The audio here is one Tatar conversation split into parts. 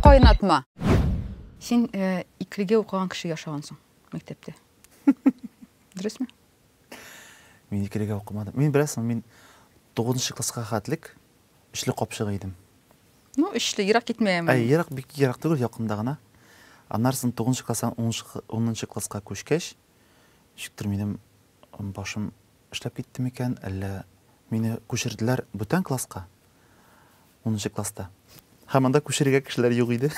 Кайнатма. Син э, иклеге укыган кеше яшагансың мәктәптә. Дөресме? Мин иклеге укымадым. Мин беләсең, мин 9 класска хәтлек эшле капчыгы идем. Ну, эшле, ерак китмәем. Ә, ерак бик ерак түгел, якында гына. Аннарсын 9 класстан 10 класска күчкәч, шиктер минем башым Эшләп китте микән, әллә мине күчерделәр бүтән класска, унынчы класста. Һәм анда күчерергә кешеләр юк иде.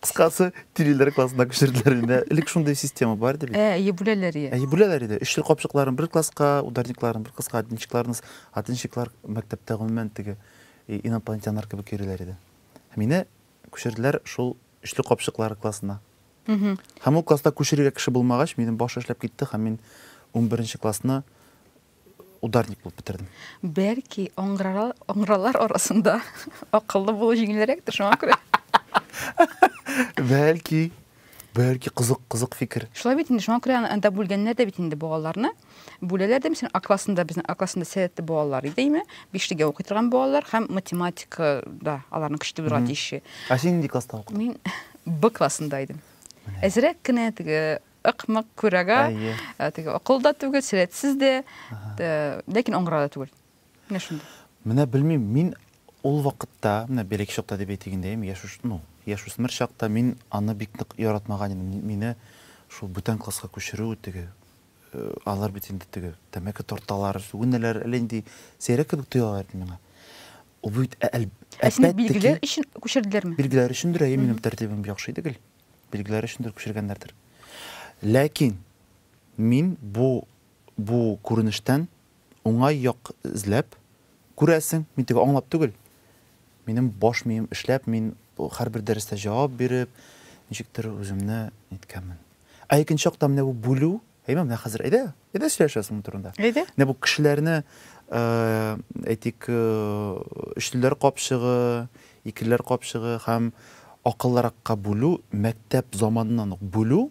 Кыскасы, тилиләр классына күчерделәр инде. Элек шундый система бар иде бит. Ә, әйе, бүләләр иде. Әйе, бүләләр иде. Өч ел капчыкларын бер класска, ударникларын бер класска, одинчикларны. Одинчиклар мәктәптә гомумән теге инопланетяннар кебек йөриләр иде. Мине күчерделәр шул өчле капчыклар классына. Һәм ул класста күчерергә кеше булмагач, минем баш эшләп китте һәм мин унберенче классны ударник булып бетердем. Бәлки, аңгыралар арасында акыллы булу җиңелрәктер, шуңа күрә. Бәлки, бәлки, кызык, кызык фикер. Шулай бит инде, шуңа күрә анда бүлгәннәр дә бит инде балаларны. бүләләр дә мисәлән а классында безнең а классында сәләтле балалар иде име бишлегә укый торган балалар һәм математикада аларның көчле булырга тиеш ә син нинди класста укыдың мин б классында идем әзерәк кенә теге ыкмык күрәгә э, теге акыл да түгел сәләтсез дә э, ләкин аңгыра да түгел менә шундый менә белмим мин ул вакытта менә береке чакта дип әйтик инде яшүш ну яшүсмер чакта мин аны бик нык яратмаган идем мине шул бүтән класска күчерү теге Алар бит инде теге тәмәке тарталар, сүгенәләр, әллә нинди сәйрәк кебек тоялар иде миңа. Ул бит әл, Ә сине әлбәттә ки, билгеләр өчен күчерделәрме? билгеләр өчендер, әйе, минем тәртибем яхшы иде гел. Билгеләр өчендер күчергәннәрдер. Ләкин мин бу бу күренештән Уңай як эзләп, күрәсең, мин теге аңлап түгел. Минем баш мием эшләп, мин һәрбер дәрестә җавап биреп, ничектер үземне ниткәнмен. Ә икенче яктан менә бу бүлү, әйме, менә хәзер әйдә, әйдә сөйләшәбез моның турында. Әйдә. Менә бу кешеләрне, әйтик, өчлеләр капчыгы, икелеләр капчыгы һәм акыллыракка бүлү, мәктәп заманыннан ук бүлү,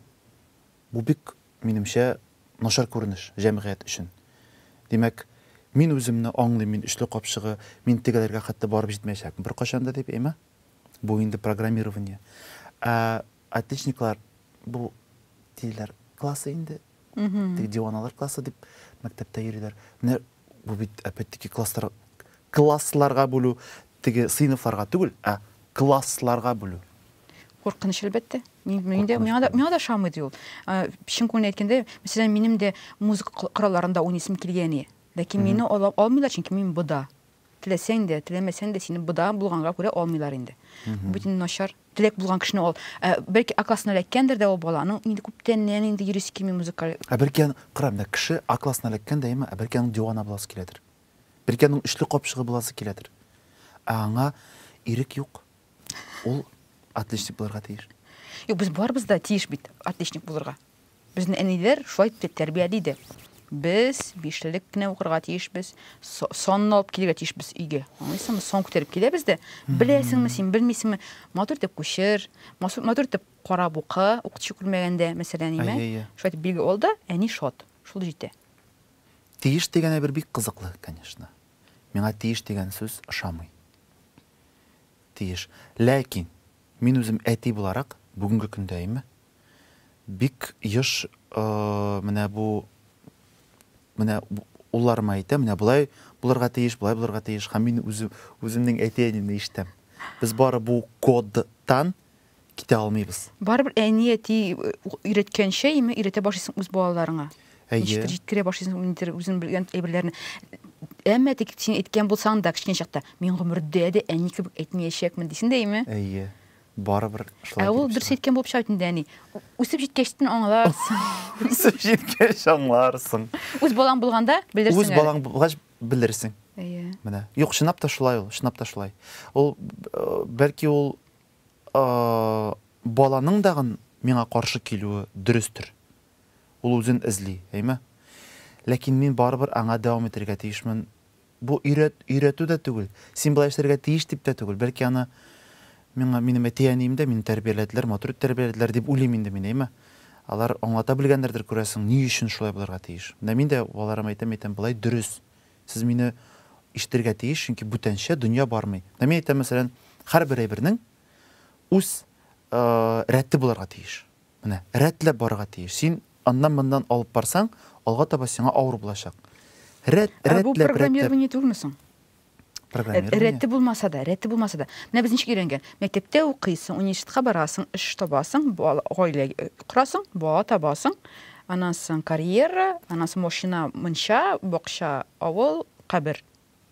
Бу бик, минемчә, начар күренеш, җәмгыять өчен. Димәк, мин үземне аңлыйм, мин өчле капчыгы, мин тегеләргә хәтта барып җитмәячәкмен беркайчан да дип, әйме? Бу инде программирование. Ә отличниклар, бу тилеләр классы инде, теге диваналар классы дип мәктәптә йөриләр. Менә бу бит опять-таки класслар, классларга бүлү, теге сыйныфларга түгел, ә классларга бүлү. Куркыныч, әлбәттә. Мин, мин дә, миңа да, миңа да шамый ди ул. Чын күңелен әйткәндә, мәсәлән, минем дә музыка коралларында уйныйсым килгән иде. Ләкин мине ала алмыйлар, чөнки мин бода. Теләсәң дә, теләмәсәң дә сине бода булганга күрә алмыйлар инде. Бу инде начар. Теләк булган кешене ал. Ә, бәлки акласына эләккәндер дә ул бала. Аның инде күптәннән инде йөрисе килми музыкаль. Ә бәлки аны, кара, менә кеше акласына эләккән дә, әйеме? Ә бәлки аның дивана буласы киләдер. Бәлки аның өчле капчыгы буласы киләдер. Ә аңа ирек юк. Ул отличник булырга тиеш. Юк, без барыбыз да тиеш бит отличник булырга. Безне әниләр шулай дип тәрбияли иде. Без бишлелек кенә укырга тиешбез, санны алып килергә тиешбез өйгә. Аңлыйсыңмы? Сон күтәреп киләбез дә, беләсеңме син, белмисеңме? Матур итеп күчер, матур итеп карап укы, укытучы күрмәгәндә, мәсәлән, име? Шулай итеп билге ал да, әни шат. Шул җитә. Тиеш дигән әйбер бик кызыклы, конечно. Миңа тиеш дигән сүз ошамый. тиеш. Ләкин мин үзем әти буларак, бүгенге көндә име, бик еш менә бу, менә улларыма әйтәм, менә болай булырга тиеш, болай булырга тиеш, һәм мин үзем, үземнең әти-әниемне ишетәм. Без бары бу кодтан китә алмыйбыз. Барыбер әни, әти өйрәткәнчә яме өйрәтә башлыйсың үз балаларыңа. Ничектер җиткерә башлыйсың ниндидер үзең белгән әйберләрне. Әмма тик син әйткән булсаң да кечкенә чакта, мин гомердә дә әни кебек әйтмәячәкмен дисең дә яме? Әйе. Барыбер шулай. Ә ул дөрес әйткән булып чыга бит инде әни. Үсеп җиткәч тен аңларсың. Үсеп җиткәч аңларсың. Үз балаң булганда белерсең. Үз балаң булгач белерсең. Әйе. Менә. Юк, чынлап та шулай ул, чынлап та шулай. Ул бәлки ул Ә баланың дагын миңа каршы килүе дөрестер. Ул үзен эзли, әйме? Ләкин мин барыбер аңа дәвам итәргә тиешмен. Бу өйрәтү дә түгел, син болай эшләргә тиеш дип тә түгел, бәлки аны миңа минем әти-әнием дә мине тәрбияләделәр, матур итеп тәрбияләделәр дип уйлыйм инде мин, әйме? Алар аңлата белгәннәрдер, күрәсең, ни өчен шулай булырга тиеш. Менә мин дә балаларыма әйтәм, әйтәм, болай дөрес, Сез мине ишетергә тиеш, чөнки бүтәнчә дөнья бармый. Менә мин әйтәм, мәсәлән, һәрбер әйбернең үз рәте булырга тиеш. Менә, рәтләп барырга тиеш. Син аннан-моннан алып барсаң, алга таба сиңа авыр булачак. Рәт, рәтләп, рәтләп. Ә бу программирование түгелме соң? Программирование. Рәте булмаса да, рәте булмаса да. Менә без ничек өйрәнгән? Мәктәптә укыйсың, университетка барасың, эш табасың, гаилә корасың, бала табасың, Анансын карьера, анансын машина, мунча, бакча, авыл, кабер.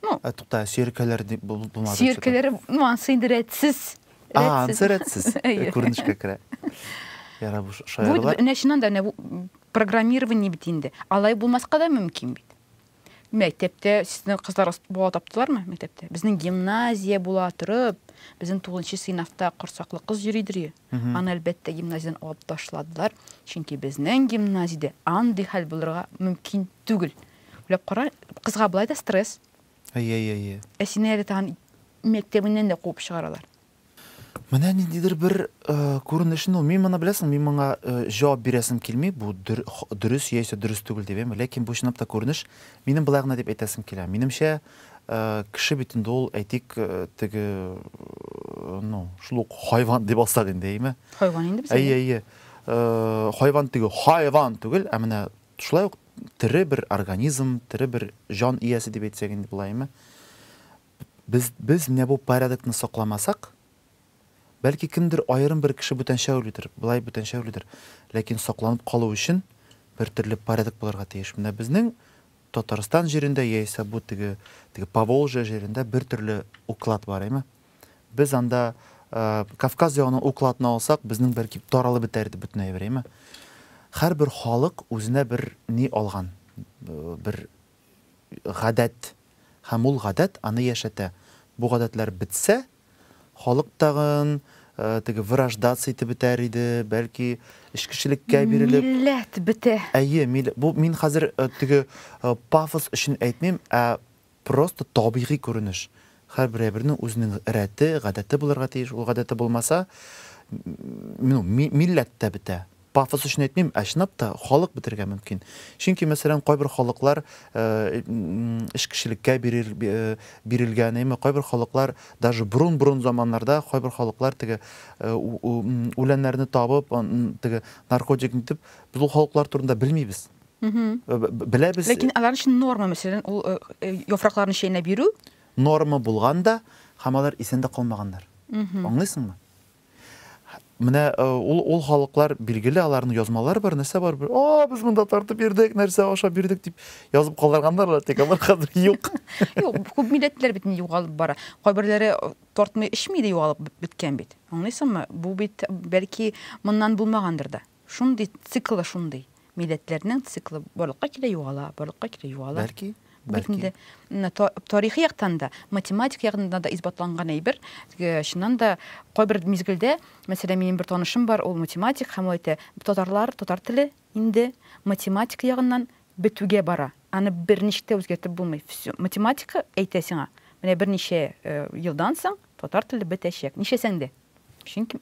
Ну. Ә тукта, сөеркәләр дип булмады. Сөеркәләр, ну ансы инде рәтсез. А, ансы рәтсез. Күренешкә керә. Яра бу шаярулар. Бу нәчинан да программирование бит инде. Алай булмаска да мөмкин бит. Мәктәптә сезнең кызлар бала таптылармы? Мәктәптә. Безнең гимназия була торып, безнең 9нчы сыйнафта корсаклы кыз йөри дөрие. Аны әлбәттә гимназиядән алып ташладылар, чөнки безнең гимназиядә андый хәл булырга мөмкин түгел. Уйлап кара, кызга болай да стресс. Әйе, әйе, әйе. Ә сине әле тагын мәктәбеннән дә куып чыгаралар. Менә ниндидер бер күренешне ул. Мин моны беләсең, мин моңа җавап бирәсем килми, бу дөрес яисә дөрес түгел дип, әйме, ләкин бу чынлап та күренеш. Минем болай гына дип әйтәсем килә. Минемчә, кеше бит инде ул, әйтик, теге, ну, шул ук хайван дип алсак инде, әйме? Хайван инде без. Әйе, әйе. Хайван теге, хайван түгел, ә менә шулай ук тере бер организм, тере бер җан иясе дип әйтсәк инде болай, әйме? Без, без менә бу порядокны сакламасак, бәлки кемдер, аерым бер кеше бүтәнчә уйлыйдыр, болай бүтәнчә уйлыйдыр, ләкин сакланып калу өчен бер төрле порядок булырга тиеш. Менә безнең Татарстан җирендә яисә бу теге, теге Поволжье җирендә бер төрле уклад бар, әйме? Без анда, Кавказ ягының укладны алсак, безнең бәлки таралып бетәр иде бөтен әйбер, әйме? Һәрбер халык үзенә бер ни алган, бер Гадәт. Һәм ул гадәт аны яшәтә. Бу гадәтләр бетсә, халык тагын теге вырождаться итеп бетәр иде, бәлки эчкечелеккә бирелеп. Милләт бетә. Әйе, милләт. Бу мин хәзер теге пафос өчен әйтмим, ә просто табигый күренеш. Һәрбер әйбернең үзенең рәте, гадәте булырга тиеш. Ул гадәте булмаса, ну, милләт тә бетә. Пафос өчен әйтмим, ә чынлап та халык бетерергә мөмкин. Чөнки, мәсәлән, кайбер халыклар эш кешелеккә бирелгән, әйме, кайбер халыклар даже борын-борын заманнарда кайбер халыклар теге үләннәрне табып, теге наркотик итеп, без ул халыклар турында белмибез. Беләбез. Ләкин алар өчен норма, мәсәлән, ул яфракларны чәйнәп йөрү. Норма булган да, һәм алар исән дә калмаганнар. Аңлыйсыңмы? Менә ул ул халыклар билгеле, аларның язмалары бар, нәрсә бар, бер, о, без монда тартып бирдек, нәрсә аша бирдек дип язып калдырганнар, тик алар хәзер юк. Юк, күп милләтләр бит югалып бара. Кайберләре тартмый эчми дә югалып беткән бит. Аңлыйсыңмы? Бу бит бәлки моннан булмагандыр да. Шундый, циклы шундый. Милләтләрнең циклы барлыкка килә, югала, барлыкка килә, югала. Бәлки, бәлки. Бит инде тарихи яктан да, математик яктан да исбатланган әйбер. Чыннан да, кайбер мизгелдә, мәсәлән, минем бер танышым бар, ул математик һәм ул әйтә, татарлар, татар теле инде математика ягыннан бетүгә бара. Аны берничек тә үзгәртеп булмый. Математика әйтә сиңа, менә берничә елдан соң татар теле бетәчәк. Нишләсәң дә. Чөнки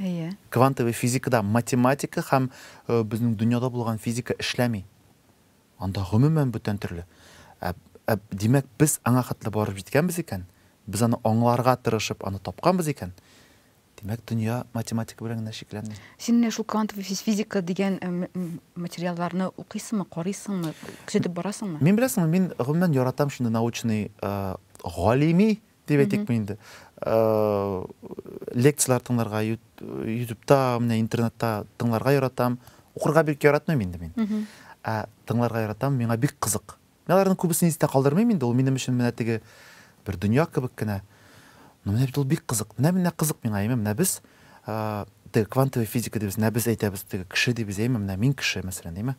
Әйе. Квантовый физикада математика һәм безнең дөньяда булган физика эшләми. Анда гомумән бүтән төрле. Ә, ә димәк, без аңа хәтле барып җиткәнбез икән, без аны аңларга тырышып, аны тапканбыз икән, димәк, дөнья математика белән генә чикләнми. Син менә шул квантовый физика дигән материалларны укыйсыңмы, карыйсыңмы, күзәтеп барасыңмы? Мин беләсеңме, мин гомумән яратам шундый научный, галими дип әйтик бу инде лекцияләр тыңларга ютубта менә интернетта тыңларга яратам укырга бик яратмыйм инде мин ә тыңларга яратам миңа бик кызык мин аларның күбесен истә калдырмыйм инде ул минем өчен менә теге бер дөнья кебек кенә но менә бит ул бик кызык менә менә кызык миңа әйме менә без теге квантовая физика дибез менә без әйтәбез теге кеше дибез әйме менә мин кеше мәсәлән әйме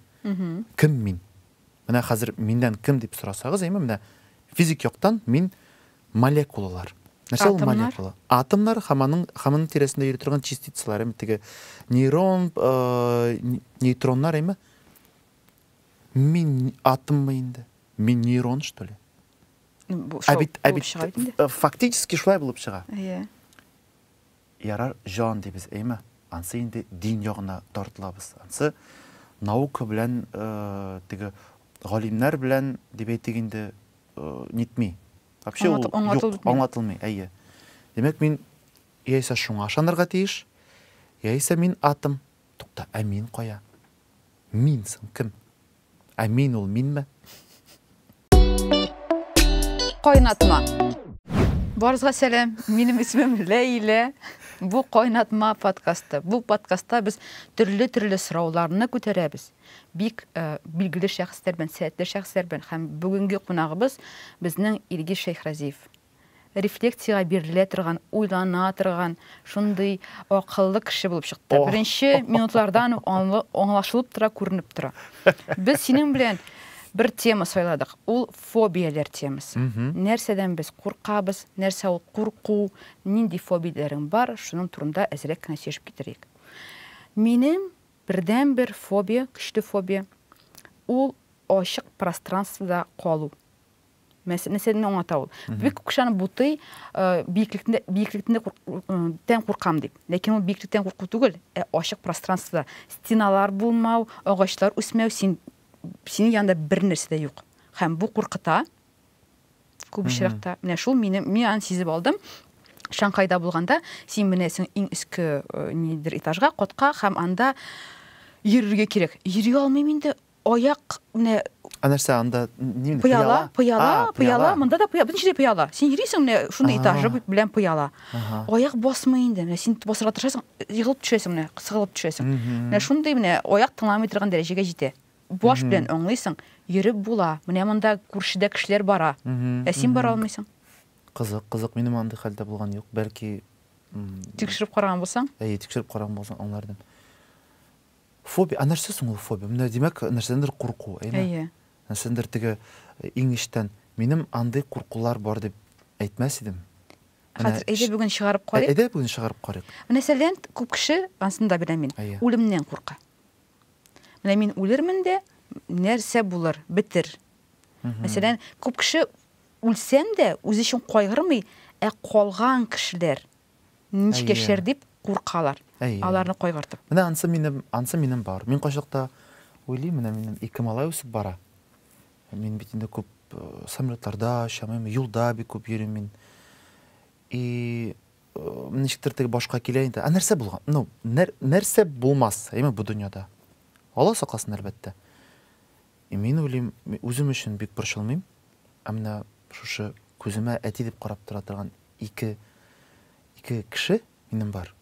кем мин Менә хәзер миннән кем дип сорасагыз, әйме, менә физик яктан мин молекулалар. Нәрсә ул молекула? Атомнар һәм аның һәм аның тирәсендә йөри торган частицалар, әйме, теге нейрон, нейтроннар, әйме. Мин атоммы инде? Мин нейрон, что ли? Ә бит, ә бит, фактически шулай булып чыга. Иә. Ярар, җан дибез, әйме? Ансы инде дин ягына тартылабыз. Ансы наука белән, теге галимнәр белән дип әйтик инде, нитми. Вообще ул юк, аңлатылмый, әйе. Димәк, мин яисә шуңа ышанырга тиеш, яисә мин атым. Тукта, ә мин кая? Мин соң кем? Ә мин ул минме? Кайнатма. Барызга сәлам. Минем исемем Ләйлә. Бу Кайнатма подкасты. Бу подкастта без төрле-төрле сорауларны күтәрәбез. Бик э, билгеле шәхесләр белән, сәләтле шәхесләр белән һәм бүгенге кунагыбыз безнең Илгиз Шәйхразиев. рефлексиягә бирелә торган, уйлана торган, шундый акыллы кеше булып чыкты. Беренче минутлардан ук аңлашылып тора, күренеп тора. Без синең белән бер тема сайладык, ул фобияләр темасы. Нәрсәдән без куркабыз, нәрсә ул курку, нинди фобияләрең бар, шуның турында әзрәк кенә сөйләшеп китерик. Минем бердәнбер фобия, көчле фобия, ул ачык пространствода калу. нәрсәне миңа аңлата ул бик күп кешеләрне бутый биеклектә биеклектә тән куркам дип ләкин ул биеклектән курку түгел ә ачык пространствода стеналар булмау агачлар үсмәү син синең янында бер нәрсә дә юк һәм бу куркыта күп очракта менә шул мине мин аны сизеп алдым шанхайда булганда син менәсең иң өске э, нидер этажга котка һәм анда йөрергә кирәк йөри алмыйм инде Аяк менә Ә нәрсә анда ни инде? Пыяла, пыяла, пыяла, монда да пыяла, бөтен җирдә пыяла. Син йөрисең менә шундый этажы белән пыяла. Аяк басмый инде. Менә син басарга тырышасың, егылып төшәсең менә, сыгылып төшәсең. Менә шундый менә аяк тыңламый торган дәрәҗәгә җитә. Баш белән аңлыйсың, йөреп була. Менә монда күршедә кешеләр бара. Ә син бара алмыйсың. Кызык, кызык, минем андый хәлдә булган юк. Бәлки тикшереп караган булсаң? Әйе, тикшереп караган булсаң аңлар идем. Фобия, а нәрсә соң ул фобия? Менә димәк, нәрсәдәндер курку, әйме? Әйе. Нәрсәдәндер теге э, иң эчтән, минем андый куркулар бар дип әйтмәс идем. Хәзер әйдә бүген чыгарып э, карыйк. Әйдә бүген чыгарып карыйк. Менә сәлән күп кеше, ансын да беләм мин, үлемнән курка. Менә мин үлермен дә, нәрсә булыр, бетер. Мәсәлән, күп кеше үлсәм дә, үзе өчен кайгырмый, ә калган кешеләр Ничек яшәр дип куркалар. Аларны кайгыртып. Менә ансы минем, ансы минем бар. Мин кайчакта уйлыйм, менә минем ике малай үсеп бара. Мин бит инде күп самолетларда очамыйм, юлда бик күп йөрим мин. И ничектер теге башка килә инде. Ә нәрсә булган? Ну, нәрсә булмас, әйме бу дөньяда? Алла сакласын, әлбәттә. Мин уйлыйм, мин үзем өчен бик борчылмыйм. Ә менә шушы күземә әти дип карап тора торган ике ике кеше минем бар.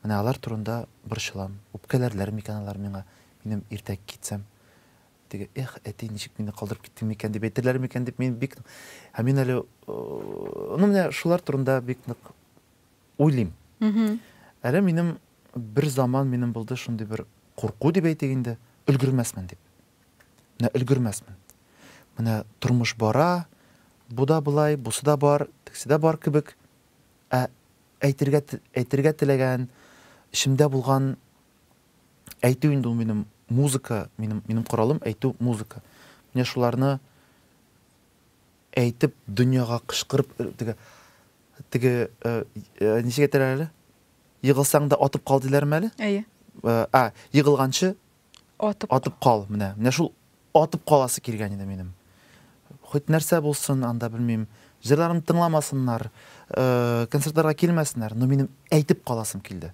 Менә алар турында борчылам. Үпкәләрләр микән алар миңа, минем иртәгә китсәм? Теге, Эх, әти, ничек мине калдырып киттең микән? дип әйтерләр микән дип мин бик Һәм мин әле, ну, менә шулар турында бик нык Уйлыйм. Әле минем бер заман минем булды шундый бер курку дип әйтик инде, өлгермәсмен дип. Менә өлгермәсмен. Менә тормыш бара, бу да болай, бусы да бар, тексе дә бар кебек. Ә әйтергә әйтергә теләгән, эчемдә булган әйтү инде ул минем музыка, минем минем коралым әйтү музыка. Менә шуларны Әйтеп, дөньяга кычкырып, теге, теге, ничек әйтәләр әле? Егылсаң да атып кал диләрме әле? Әйе. А, егылганчы атып, атып кал. Менә, менә шул атып каласы килгән иде минем. Хоть нәрсә булсын, анда белмим, җырларымны тыңламасыннар, концертларга килмәсеннәр, но минем әйтеп каласым килде.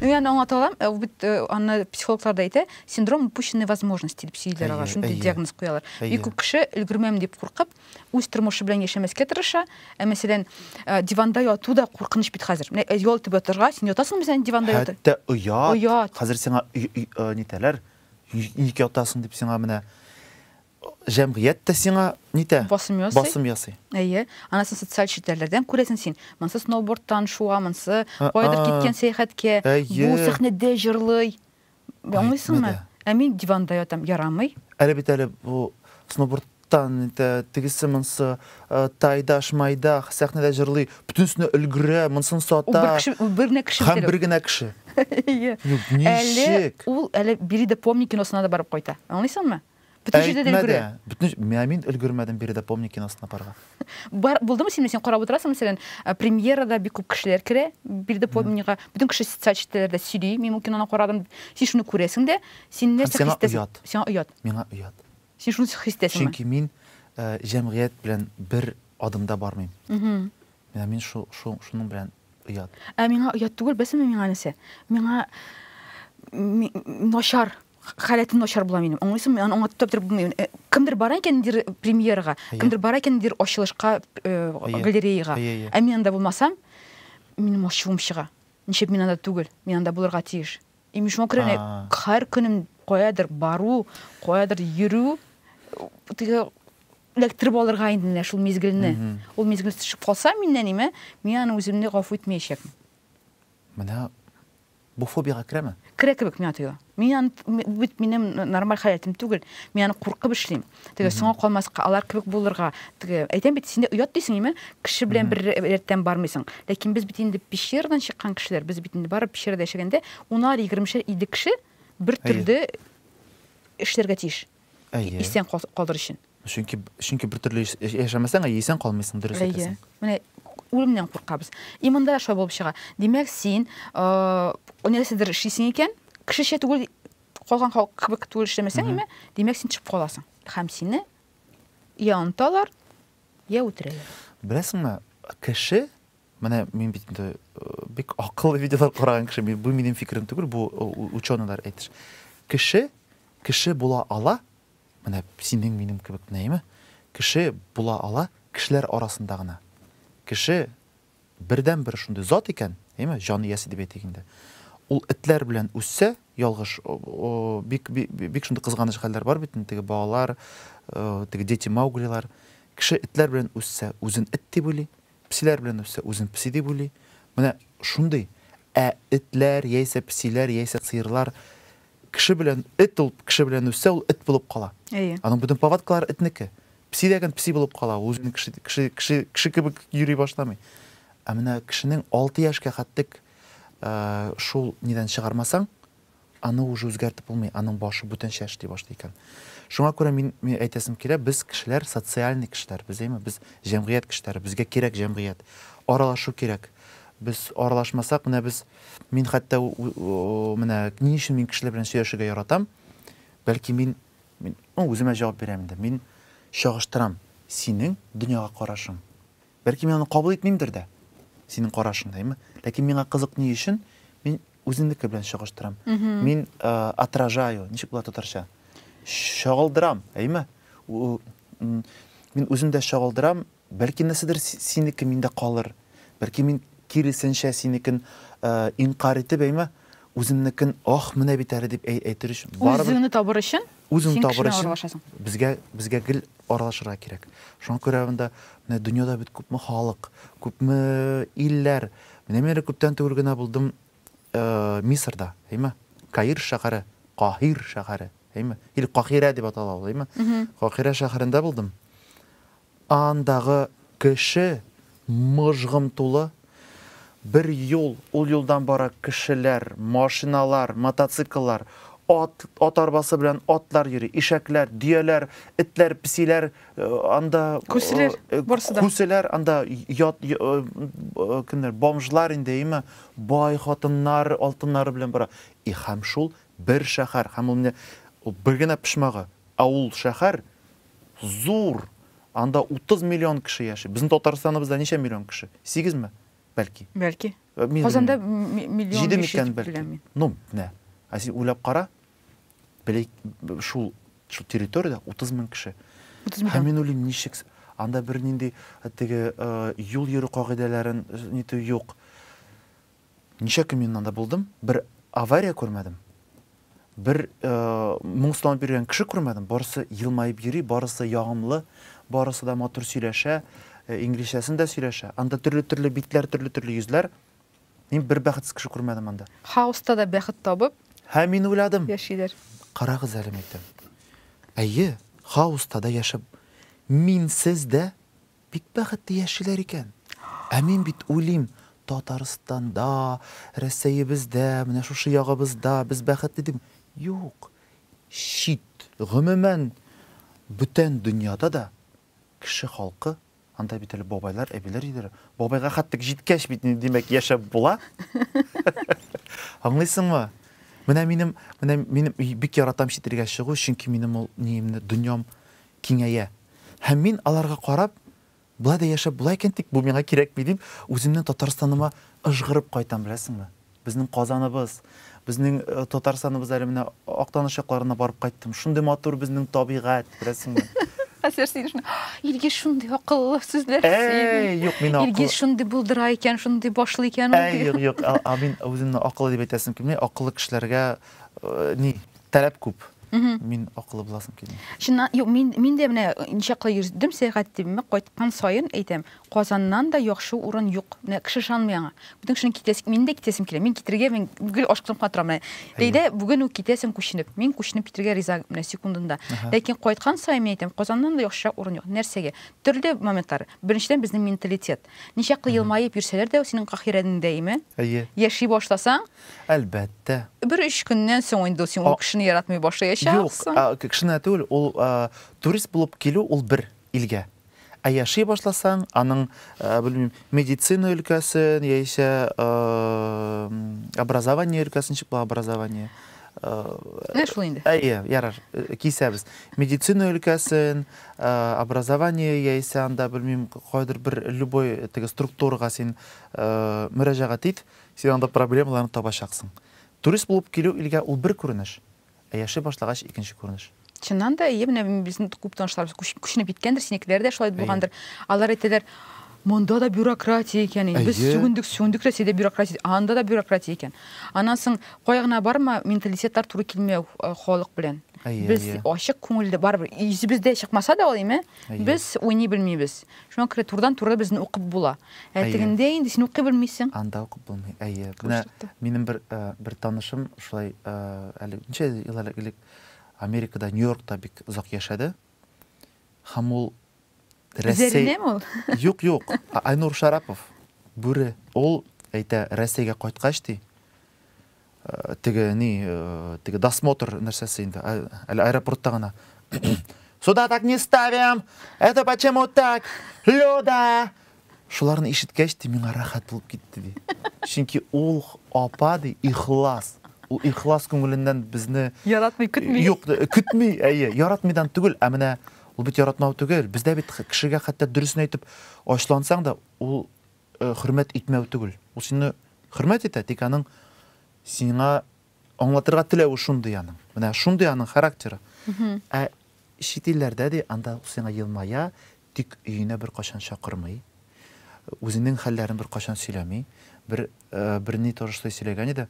Ну, я аңлата алам, э, ул бит э, аны психологлар да әйтә, синдром упущенной возможности дип сөйлиләр ага, шундый диагноз куялар. Бик күп кеше өлгермәм дип куркып, үз тормышы белән яшәмәскә тырыша. Ә мәсәлән, э, диванда яту да куркыныч бит хәзер. Менә ял итеп ятырга, син ятасыңмы син диванда ятып? Хәтта оят. Оят. Хәзер сиңа нитәләр? Ник ятасың дип сиңа менә Җәмгыять тә сиңа нитә? Басым ясый. Басым ясый. Әйе. Аннан социаль челтәрләрдән күрәсең син. Монсы сноубордтан шуа, монсы каядыр киткән сәяхәткә. Әйе. Бу сәхнәдә җырлый. Аңлыйсыңмы? Ә мин диванда ятам. Ярамый. Әле бит әле бу сноубордтан нитә, тегесе монсы тайда, шмайда, сәхнәдә җырлый, бөтенесенә өлгерә, монсын сата. Ул бер генә кеше бит әле. Һәм бер генә кеше. Әйе. Әле ул әле Бери да помни киносына да барып кайта. Аңлыйсыңмы? Бөтен җирдә дә Әйтмә өлгерә. дә. Бөтен җ- Мә, мин өлгермәдем биредә помник киносына барырга. Бар, булдымы синме, син карап утырасың, мәсәлән, ә, премьерада бик күп кешеләр керә, биредә помнигга, бөтен кеше социаль челтәләрдә сөйли, мин бу киноны карадым, син шуны күрәсең дә, син Һәм нәрсә сиңа хис итәсең? оят. Сиңа оят. Миңа оят. Син шуны с- хис итәсеңме? Чөнки мин э, җәмгыять белән бер адымда бармыйм. Мгм. Менә мин шу, шу, шуның белән оят. Ә миңа оят түгел, беләсеңме миңа нәрсә? Миңа ми- м, начар. халәтем начар була минем аңлыйсыңмы мин аны аңлатып та бетереп булмый э, кемдер бара икән ниндидер премьерага кемдер бара икән ниндидер ачылышка э, галереяга ә мин анда булмасам минем ачуым чыга ничек мин анда түгел мин анда булырга тиеш и мин шуңа күрә һәр көнем каядыр бару каядыр йөрү теге эләктереп алырга инде менә шул мизгелне ул мизгел төшеп калса миннән име мин аны үземне гафу итмәячәкмен менә Бу фобиягә керәме? Керә кебек миңа тоела. Мин аны, бу бит минем нормаль халәтем түгел. Мин аны куркып эшлим. Теге соңга калмаска, алар кебек булырга, теге, әйтәм бит, синдә оят дисең име? Кеше белән бер рәттән бармыйсың. Ләкин без бит инде пещерадан чыккан кешеләр, без бит инде барып пещерада яшәгәндә унар, егермешәр, илле кеше бер төрле эшләргә тиеш. Әйе. Исән калыр өчен. Чөнки чөнки бер төрле яшәмәсәң, әйе, исән калмыйсың, дөрес әйтәсең. Менә үлемнән куркабыз. Иманда шулай булып чыга. Димәк, син нәрсәдер эшлисең икән, кешечә түгел, калган халык кебек түгел эшләмәсәң, әмма димәк, син төшеп каласың. Һәм сине я онталар, я үтерәләр. Беләсеңме, кеше Менә мин бит инде бик акыллы видеолар караган кеше, бу минем фикерем түгел, бу ученыйлар әйтеш. Кеше кеше була ала, менә синең минем кебек нәйме, кеше була ала кешеләр арасында гына. Кеше бердән бер шундый зат икән, әйме, җан иясе дип әйтик инде. Ул этләр белән үссә, ялгыш, бик бик, бик шундый кызганыч хәлләр бар бит, теге балалар, теге дети мауглилар. Кеше этләр белән үссә, үзен эт дип уйлый, Песиләр белән үссә, үзен песи дип уйлый. Менә шундый. Ә этләр, яисә песиләр, яисә сыерлар, кеше белән, эт ул кеше белән үссә, ул эт булып кала. Әйе. Аның бөтен повадкалары этнеке. Песи дә гән песи булып кала, ул үзен кеше, кеше, кеше, кеше кебек йөри башламый. Ә менә кешенең алты яшькә хәтлек шул нидән чыгармасаң, Аны уже үзгәртеп булмый, аның башы бүтәнчә эшли башлый икән. Шуңа күрә мин, мин әйтәсем килә, без кешеләр социальный кешеләр, без әйме, без җәмгыять кешеләре, безгә кирәк җәмгыять. Аралашу кирәк. Без аралашмасак, менә без, мин хәтта менә ни өчен мин кешеләр белән сөйләшергә яратам, бәлки мин, мин ну, үземә җавап бирәм инде, мин чагыштырам синең дөньяга карашың. Бәлки мин аны кабул итмимдер дә, синең карашың да, әйме? Ләкин миңа кызык ни өчен, мин Үземнеке белән чагыштырам. Мин отражаю, ничек була татарча? Чагылдырам, әйме? Мин үзем дә чагылдырам, бәлки нәрсәдер синеке миндә калыр. Бәлки мин киресенчә синекен инкарь итеп, әйме? Үземнекен, ох, менә бит әле дип әйтер өчен. Үзеңне табыр өчен? Үзең Син табыр кешеләр өчен аралашасың. безгә безгә гел аралашырга кирәк. Шуңа күрә монда менә дөньяда бит күпме халык, күпме илләр. Менә мин әле күптән түгел генә булдым э, Мисырда, әйме? Каир шәһәре, Каһир шәһәре, әйме? Или Кахирә дип атала ул, әйме? Кахирә шәһәрендә булдым. Андагы кеше мыжгым тулы. Бер юл, ул юлдан бара кешеләр, машиналар, мотоцикллар, ат, ат арбасы белән атлар йөри, ишәкләр, дөяләр, этләр, песиләр анда Күселәр, барсы да. Күселәр анда ят, кемнәр, бомжлар инде, әйеме, бай хатыннар алтыннары белән бара. И һәм шул бер шәһәр, һәм ул менә бер генә почмагы, ә ул шәһәр Зур! Анда 30 миллион кеше яши. Безнең Татарстаныбызда ничә миллион кеше? Сигезме? Бәлки. Бәлки. Казанда миллион җиде микән, дип беләм мин. Ну, менә. Ә син уйлап кара, шул территориядә 30 мең кеше. 30 миллион. Һәм мин уйлыйм, ничек анда бернинди теге юл йөрү кагыйдәләрен нитү юк. Ничә көн мин анда булдым, бер авария күрмәдем, бер моңсуланып йөргән кеше күрмәдем, барысы елмаеп йөри, барысы ягымлы, барысы да матур сөйләшә, инглизчәсен дә сөйләшә. Анда төрле-төрле битләр, төрле-төрле йөзләр. Мин бер бәхетсез кеше күрмәдем анда. Хаоста да бәхет табып. Һәм мин уйладым. Яшиләр. Карагыз әле, мәйтәм. Әйе, хаоста да яшәп, минсез дә Бик бәхетле яшиләр икән. Ә мин бит уйлыйм, Татарстанда, Рәсәебездә, менә шушы ягыбызда без бәхетле дим. Юк, чит, гомумән, бүтән дөньяда да кеше халкы, анда бит әле бабайлар, әбиләр җирләре, бабайга хәтлек җиткәч бит инде, димәк, яшәп була. Аңлыйсыңмы? Менә минем, менә минем бик яратам чит илгә чыгу, чөнки минем ул ниемне, дөньям киңәя, һәм мин аларга карап, Болай да яшәп була икән, тик бу миңа кирәкми, дип, үземнең Татарстаныма ыжгырып кайтам, беләсеңме? Безнең Казаныбыз, безнең Татарстаныбыз, әле менә Актаныш якларына барып кайттым, шундый матур безнең табигать, беләсеңме? Хәзер син шуны, Илгиз шундый акыллы сүзләр сөйли. Юк, мин акыллы. Илгиз шундый булдыра икән, шундый башлый икән. Юк, юк, мин үземне акыллы дип әйтәсем килми, акыллы кешеләргә ни, Таләп күп. Мин акылы буласым килми. Чыннан, юк, мин, мин дә менә ничаклы йөрдем сәяхәт итемме, кайткан саен әйтәм, Казаннан да яхшы урын юк. Менә кеше ышанмый аңа. Бүтән кешенең китәсе, мин дә китәсем килә. Мин китергә, мин гел ашкынып кына торам. Менә Ләйлә бүген үк китәсең күченеп. Мин күченеп китергә риза менә секундында. Ләкин кайткан саен мин әйтәм, Казаннан да яхшырак урын юк. Нәрсәгә? Төрле моментлар. Беренчедән, безнең менталитет. Ничаклы елмаеп йөрсәләр дә, синең каһирәнең дәиме. Әйе. Яши башласаң, Әлбәттә. Бер өч көннән соң инде син ул кешене яратмый башлаячаксың. Юк, кешене түгел, ул турист булып килү ул бер илгә. Ә яши башласаң, аның, белмим, медицина өлкәсен яисә образование өлкәсен ничек була образование? Менә шул инде. Әйе, ярар, кисәбез. Медицина өлкәсен, образование яисә анда, белмим, кайдыр бер любой теге структурага син мөрәҗәгать ит, Син анда проблемаларны табачаксың. Турист булып килү илгә ул бер күренеш, ә яши башлагач икенче күренеш. Чыннан да, әйе, менә безнең күп танышларыбыз күченеп киткәндер, синекеләр дә шулай булгандыр. Алар әйтәләр, монда да бюрократия икән, без сүгендек, сүгендек Рәсәйдә бюрократия, анда да бюрократия икән. Аннан соң кая гына барма, менталитетлар туры килмәү халык белән. Без ачык күңелле, барыбер йөзебездә чыкмаса да ул, әйме, без уйный белмибез. Шуңа күрә турыдан-туры безне укып була. Ә тегендә инде син укый белмисең. Анда укып булмый. Әйе. Менә минем бер бер танышым шулай әле ничә ел элек Америкада, Нью-Йоркта бик озак яшәде. Һәм ул Рәсәй Юк, юк. Айнур Шарапов, Бүре. Ул әйтә, Рәсәйгә кайткач ди, Теге ни, теге досмотр нәрсәсе инде, әле аэропортта гына. Сюда так не ставим! Это почему так? Люда! Шуларны ишеткәч, ди, миңа рәхәт булып китте, ди. Чөнки ул апа, ди, ихлас. Ул ихлас күңеленнән безне яратмый көтми. Юк, көтми, әйе, яратмыйдан түгел, ә менә ул бит яратмау түгел. Бездә бит кешегә хәтта дөресен әйтеп ачлансаң да, ул хөрмәт итмәү түгел. Ул сине хөрмәт итә, тик аның сиңа аңлатырга теләве шундый аның. Менә шундый аның характеры. Ә чит илләрдә ди, анда ул сиңа елмая, тик өенә бер кашан чакырмый. Үзенең хәлләрен бер кашан сөйләми. Бер бер ни торышлы сөйләгән иде.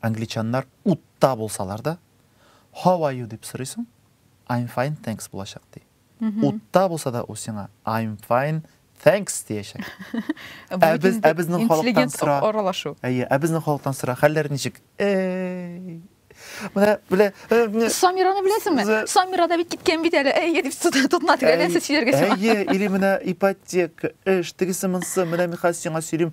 Англичаннар утта булсалар да, how are you дип сорыйсың, I'm fine, thanks булачак ди. Утта булса да ул сиңа I'm fine, thanks диячәк. Ә без ә безнең халыктан сора. Аралашу. Әйе, ә безнең халыктан сора. Хәлләр ничек? Эй. Менә белә. Э, Самираны беләсеңме? Самира да бит киткән бит әле. Әйе дип тотына тирәләсә сөйләргә сиңа. Әйе, или менә ипотека, эш, тегесе монсы, менә мин хәзер сиңа сөйлим.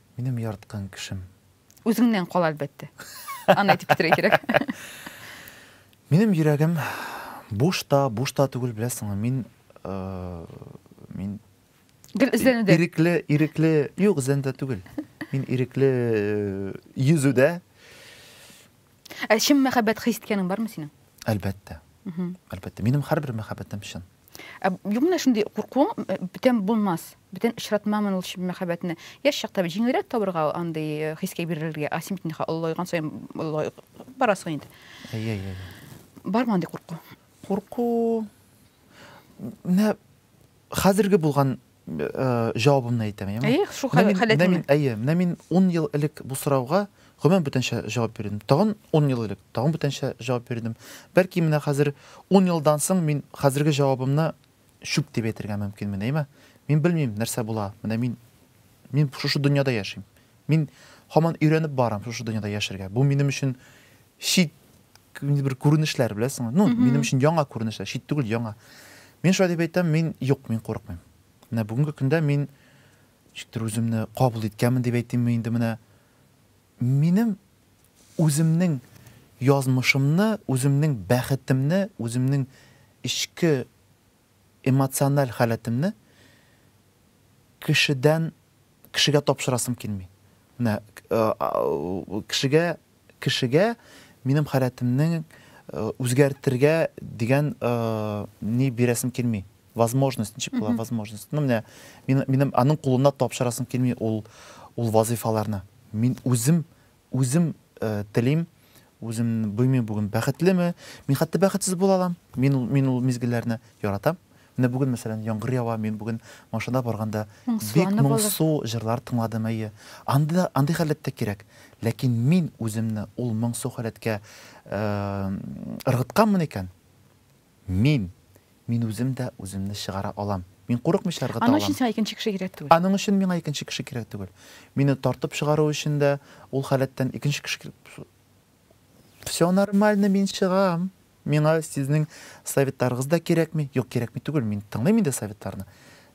Минем яраткан кешем. Үзеңнән кал, әлбәттә. Аны әйтеп бетерә кирәк. Минем йөрәгем буш та, буш та түгел, беләсеңме, мин мин Гел эзләнүдә. Ирекле, ирекле, юк, эзләнүдә түгел. Мин ирекле э, йөзүдә. Ә чын мәхәббәт хис иткәнең бармы синең? Әлбәттә. Әлбәттә. Минем һәрбер мәхәббәтем чын. Ә юк менә шундый куркуың бүтән булмас. Бүтән очратмамын ул чын мәхәббәтне. Яшь чакта җиңелрәк табырга андый э, хискә бирелергә. А син бит ниха олылайган саен олылай барасың инде. Әйе, әйе. Бармы андый курку? Курку менә хәзерге булган җавабымны әйтәм, яме? Әйе, шул халәтеңне. Мин, әйе, менә мин 10 ел элек бу сорауга гомумән бүтәнчә җавап бирдем. Тагын 10 ел элек тагын бүтәнчә җавап бирдем. Бәлки менә хәзер 10 елдан соң мин хәзерге җавабымны чүп дип әйтергә мөмкинмен, әйме? Мин белмим, нәрсә була. Менә мин мин шушы дөньяда яшим. Мин һаман өйрәнеп барам шушы дөньяда яшәргә. Бу минем өчен чит бер күренешләр, беләсеңме? Ну, минем өчен яңа күренешләр, чит түгел, яңа. Мин шулай дип әйтәм, мин юк, мин курыкмыйм. Менә бүгенге көндә мин ничектер үземне кабул иткәнмен дип әйтимме инде менә. Минем үземнең язмышымны, үземнең бәхетемне, үземнең эчке Эмоциональ халәтемне кешедән кешегә тапшырасым килми. Менә кешегә кешегә минем халәтемне үзгәртергә дигән ни бирәсем килми. Возможность, ничек була возможность. Ну, менә минем аның кулына тапшырасым килми ул ул вазыйфаларны. Мин үзем Үзем телим, үзем белмим бүген бәхетлеме, мин хәтта бәхетсез була алам. Мин ул мин ул мизгелләрне яратам. Менә бүген мәсәлән яңгыр ява, мин бүген машинада барганда бик моңсу җырлар тыңладым әйе. Анда андый халәт тә кирәк. Ләкин мин үземне ул моңсу халәткә ыргытканмын икән, Мин! Мин үзем дә үземне чыгара алам. Мин курыкмыйча ыргыта алам. Аның өчен сиңа икенче кеше кирәк түгел. Аның өчен миңа икенче кеше кирәк түгел. Мине тартып чыгару өчен дә ул халәттән икенче кеше кирәк. Всё нормально, мин чыгам. Миңа сезнең советларыгыз да кирәкми. Юк, кирәкми түгел, мин тыңлыйм инде советларны.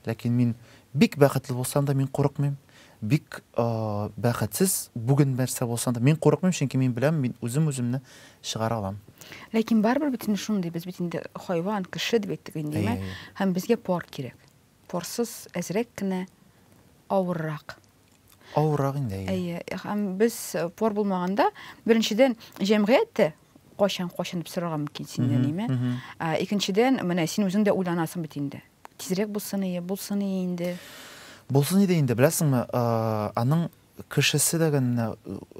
Ләкин мин бик бәхетле булсам да, мин курыкмыйм. Бик бәхетсез, бүген нәрсә булса да. Мин курыкмыйм, чөнки мин беләм, мин үзем үземне чыгара алам. Ләкин барыбер бит инде шундый, без бит инде хайван, кеше дип әйттек инде, димәк, һәм безгә пар кирәк. Парсыз әзрәк кенә авыррак. Авыррак инде. Әйе, һәм без пар булмаганда, беренчедән, җәмгыять тә кайчан кайчан дип сорарга мөмкин синнән, димәк. Икенчедән, менә син үзең дә уйланасың бит инде. Тизрәк булсын ие, булсын ие инде. Булсын иде инде, беләсеңме, аның кешесе дә генә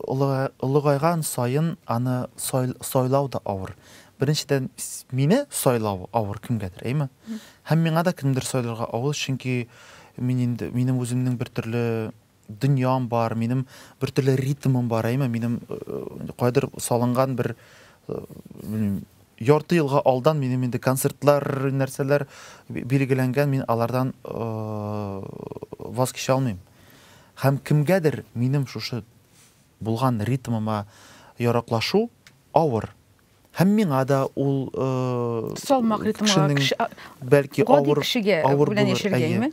олыгайган саен аны сайлау да авыр. Беренчедән, мине сайлау авыр кемгәдер, әйме? Һәм миңа да кемдер сайларга авыр, чөнки мин инде минем үземнең бер төрле дөньям бар, минем бертөрле ритмым бар, әйме, минем кайдыр салынган бер белмим, ярты елга алдан минем инде концертлар нәрсәләр билгеләнгән мин алардан ваз кичә алмыйм һәм кемгәдер минем шушы булган ритмыма яраклашу авыр Һәм миңа да ул салмак ритмга кеше бәлки авыр кешегә авыр белән яшәргәме?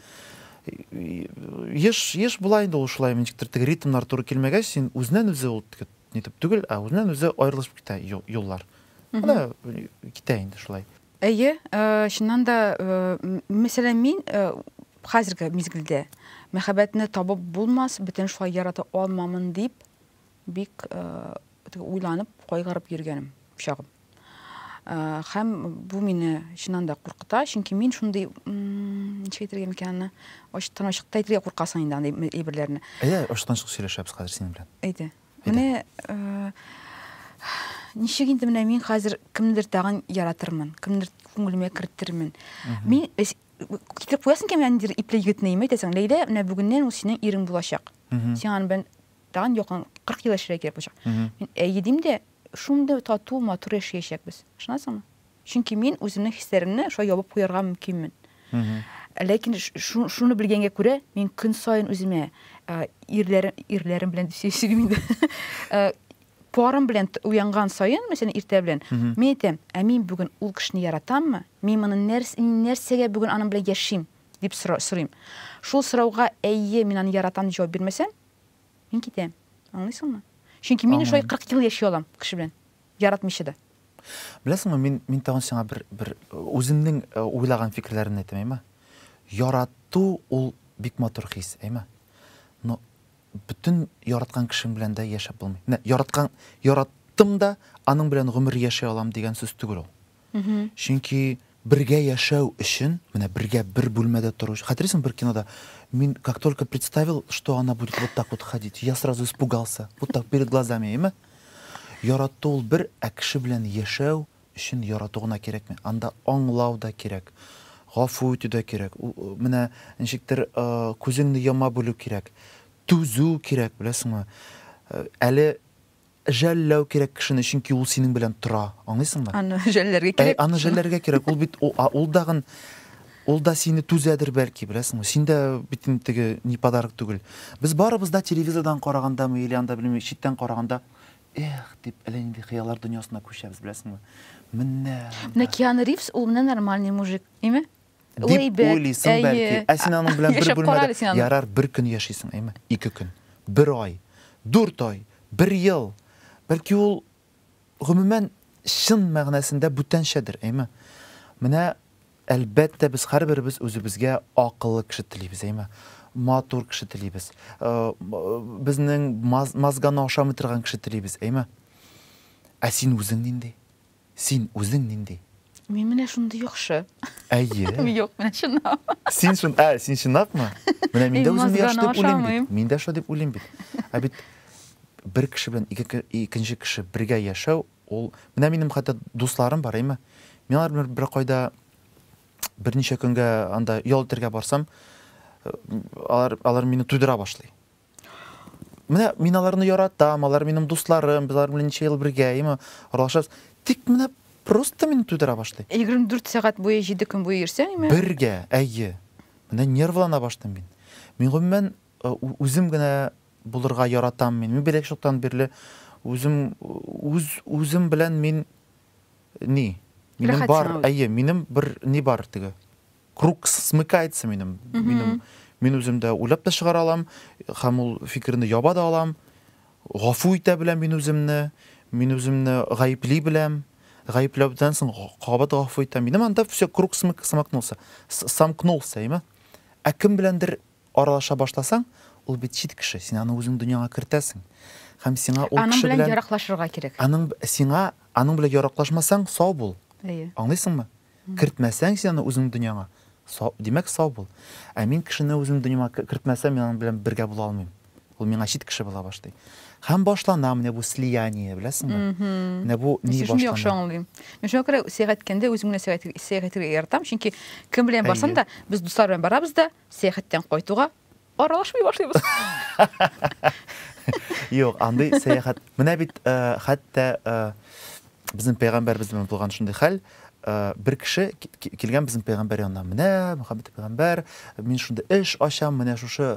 Еш еш була инде ул шулай ничектер теге ритмнар туры килмәгәч син үзеннән үзе ул нитеп түгел, ә үзеннән үзе аерылышып китә юллар. Ана китә инде шулай. Әйе, чыннан да, мәсәлән, мин хәзерге мизгелдә мәхәббәтне табып булмас, бөтен шулай ярата алмамын дип Бик уйланып, кайгырып йөргәнем чагым. Хәм бу мине чыннан да куркыта, чөнки мин шундый, ничек әйтергә микән аны, ачыктан ачыкта әйтергә куркасың инде андый әйберләрне. Әйдә, ачыктан ачык сөйләшәбез хәзер синең белән. Әйдә. Менә ничек инде менә мин хәзер кемнедер тагын яратырмын, кемнедер күңелемә кертермен. Мин китереп куясың икән менә ниндидер ипле егетне, әйтәсең, Ләйлә, менә бүгеннән ул синең ирең булачак. Син аның белән тагын якын 40 ел яшәргә кирәк булачак. Мин әйе дим дә, шундый тату, матур яшәячәкбез. Ышанасыңмы? Чөнки мин үземнең хисләремне шулай ябып куярга мөмкинмен. Ләкин шуны белгәнгә күрә, мин көн саен үземә ирләрем, ирләрем белән дип сөйлим инде. Парым белән уянган саен, мәсәлән, иртә белән, мин әйтәм, ә мин бүген ул кешене яратаммы? Мин моны нәрсәгә бүген аның белән яшим? дип сорыйм. Шул сорауга әйе, мин аны яратам дип җавап бирмәсәм, Мин китәм. Аңлыйсыңмы? Чөнки мин шулай 40 ел яши алам кеше белән. Яратмыйча да. Беләсеңме, мин мин тагын сиңа бер бер үземнең э, уйлаган фикерләремне әйтәм, әйме? Ярату ул бик матур хис, әйме? Но бөтен яраткан кешең белән дә яшәп булмый. Менә яраткан яраттым да, аның белән гомер яши алам дигән сүз түгел ул. Чөнки бергә яшәү өчен, менә бергә бер бүлмәдә тору өчен, хәтерлисеңме бер кинода, мин как только представил, что она будет вот так вот ходить, я сразу испугался, вот так перед глазами, әйеме? Ярату ул бер, ә кеше белән яшәү өчен ярату гына кирәкми, анда аңлау да кирәк, гафу итү дә кирәк, менә ничектер күзеңне яма белү кирәк, түзү кирәк, беләсеңме? Әле Жәлләү кирәк кешене, чөнки ул синең белән тора, аңлыйсыңмы? Аны жәлләргә кирәк. Әй, аны жәлләргә кирәк, ул бит, ул дагын, ул да сине түзәдер, бәлки, беләсеңме? Син дә бит инде теге ни подарок түгел. Без барыбыз да телевизордан карагандамы или анда, белмим, читтән караганда, эх, дип, әллә нинди хыяллар дөньясына күчәбез, беләсеңме? Менә анда. Менә Киану Ривз, ул менә нормальный мужик, әйме? Дип уйлыйсың бәлки. Ә син аның белән бер бүлмәдә, ярар, бер көн яшисең, әйме, ике көн, бер ай, дүрт ай, бер ел. Бәлки ул, гомумән, чын мәгънәсендә бүтәнчәдер, әйме. Менә, әлбәттә, без һәрберебез үзебезгә акыллы кеше телибез, әйме. Матур кеше телибез. Безнең мозганы ашамый торган кеше телибез, әйме. Ә син үзең нинди? Син үзең нинди? Мин менә шундый яхшы. Әйе. Юк, менә чынлап. Син шун, ә, син чынлапмы? Менә мин дә үземне яхшы дип уйлыйм бит. Мин дә шулай дип уйлыйм бит. Ә бит бер кеше белән ике икенче кеше бергә яшәү, ул менә минем хәтта дусларым бар, әйме? Мин алар белән бер кайда берничә көнгә анда ял итәргә барсам, э, алар алар мине туйдыра башлый. Менә мин аларны яратам, алар минем дусларым, без алар белән ничә ел бергә, яме, аралашабыз. Тик менә просто мин тудыра башлый. 24 сәгать буе 7 көн буе йөрсәңме? Бергә, әйе. Менә нервлана башлыйм мин. Мин гомумән үзем генә булырга яратам мин. Мин бәләкәч чактан бирле үзем үз үзем белән мин ни? Минем бар, әйе, минем бер ни бар теге. круг смыкается минем минем мин үзем дә уйлап та чыгара алам һәм ул фикерне яба да алам гафу итә беләм мин үземне мин үземне гаепли беләм гаепләүдән соң кабат гафу итәм минем анда все круг смык, смыкнулся с- самкнулся әйме ә кем беләндер Аралаша башласаң, ул бит чит кеше, син аны үзең дөньяңа кертәсең. Һәм сиңа ул кеше белән. Аның белән яраклашырга кирәк. Аның, сиңа, аның белән яраклашмасаң, сау бул. Әйе. Аңлыйсыңмы? Кертмәсәң син аны үзең дөньяңа, сау, димәк, сау бул. Ә мин кешене үзем дөньяма кертмәсәм, мин аның белән бергә була алмыйм. Ул миңа чит кеше була башлый. Һәм башлана менә бу слияние, беләсеңме? Менә бу ни башлана. Син яхшы аңлыйм. Мин шуңа күрә сәяхәт иткәндә үзем генә сәяхәт итәргә яратам, чөнки кем белән барсам да, без дуслар белән барабыз да, Сәяхәттән кайтуга аралашмый башлыйбыз. Юк, андый сәяхәт. Менә бит хәтта безнең пәйгамбәрбез белән булган шундый хәл, бер кеше килгән безнең пәйгамбәр янына. Менә Мөхәммәд пәйгамбәр, мин шундый эш ачам, менә шушы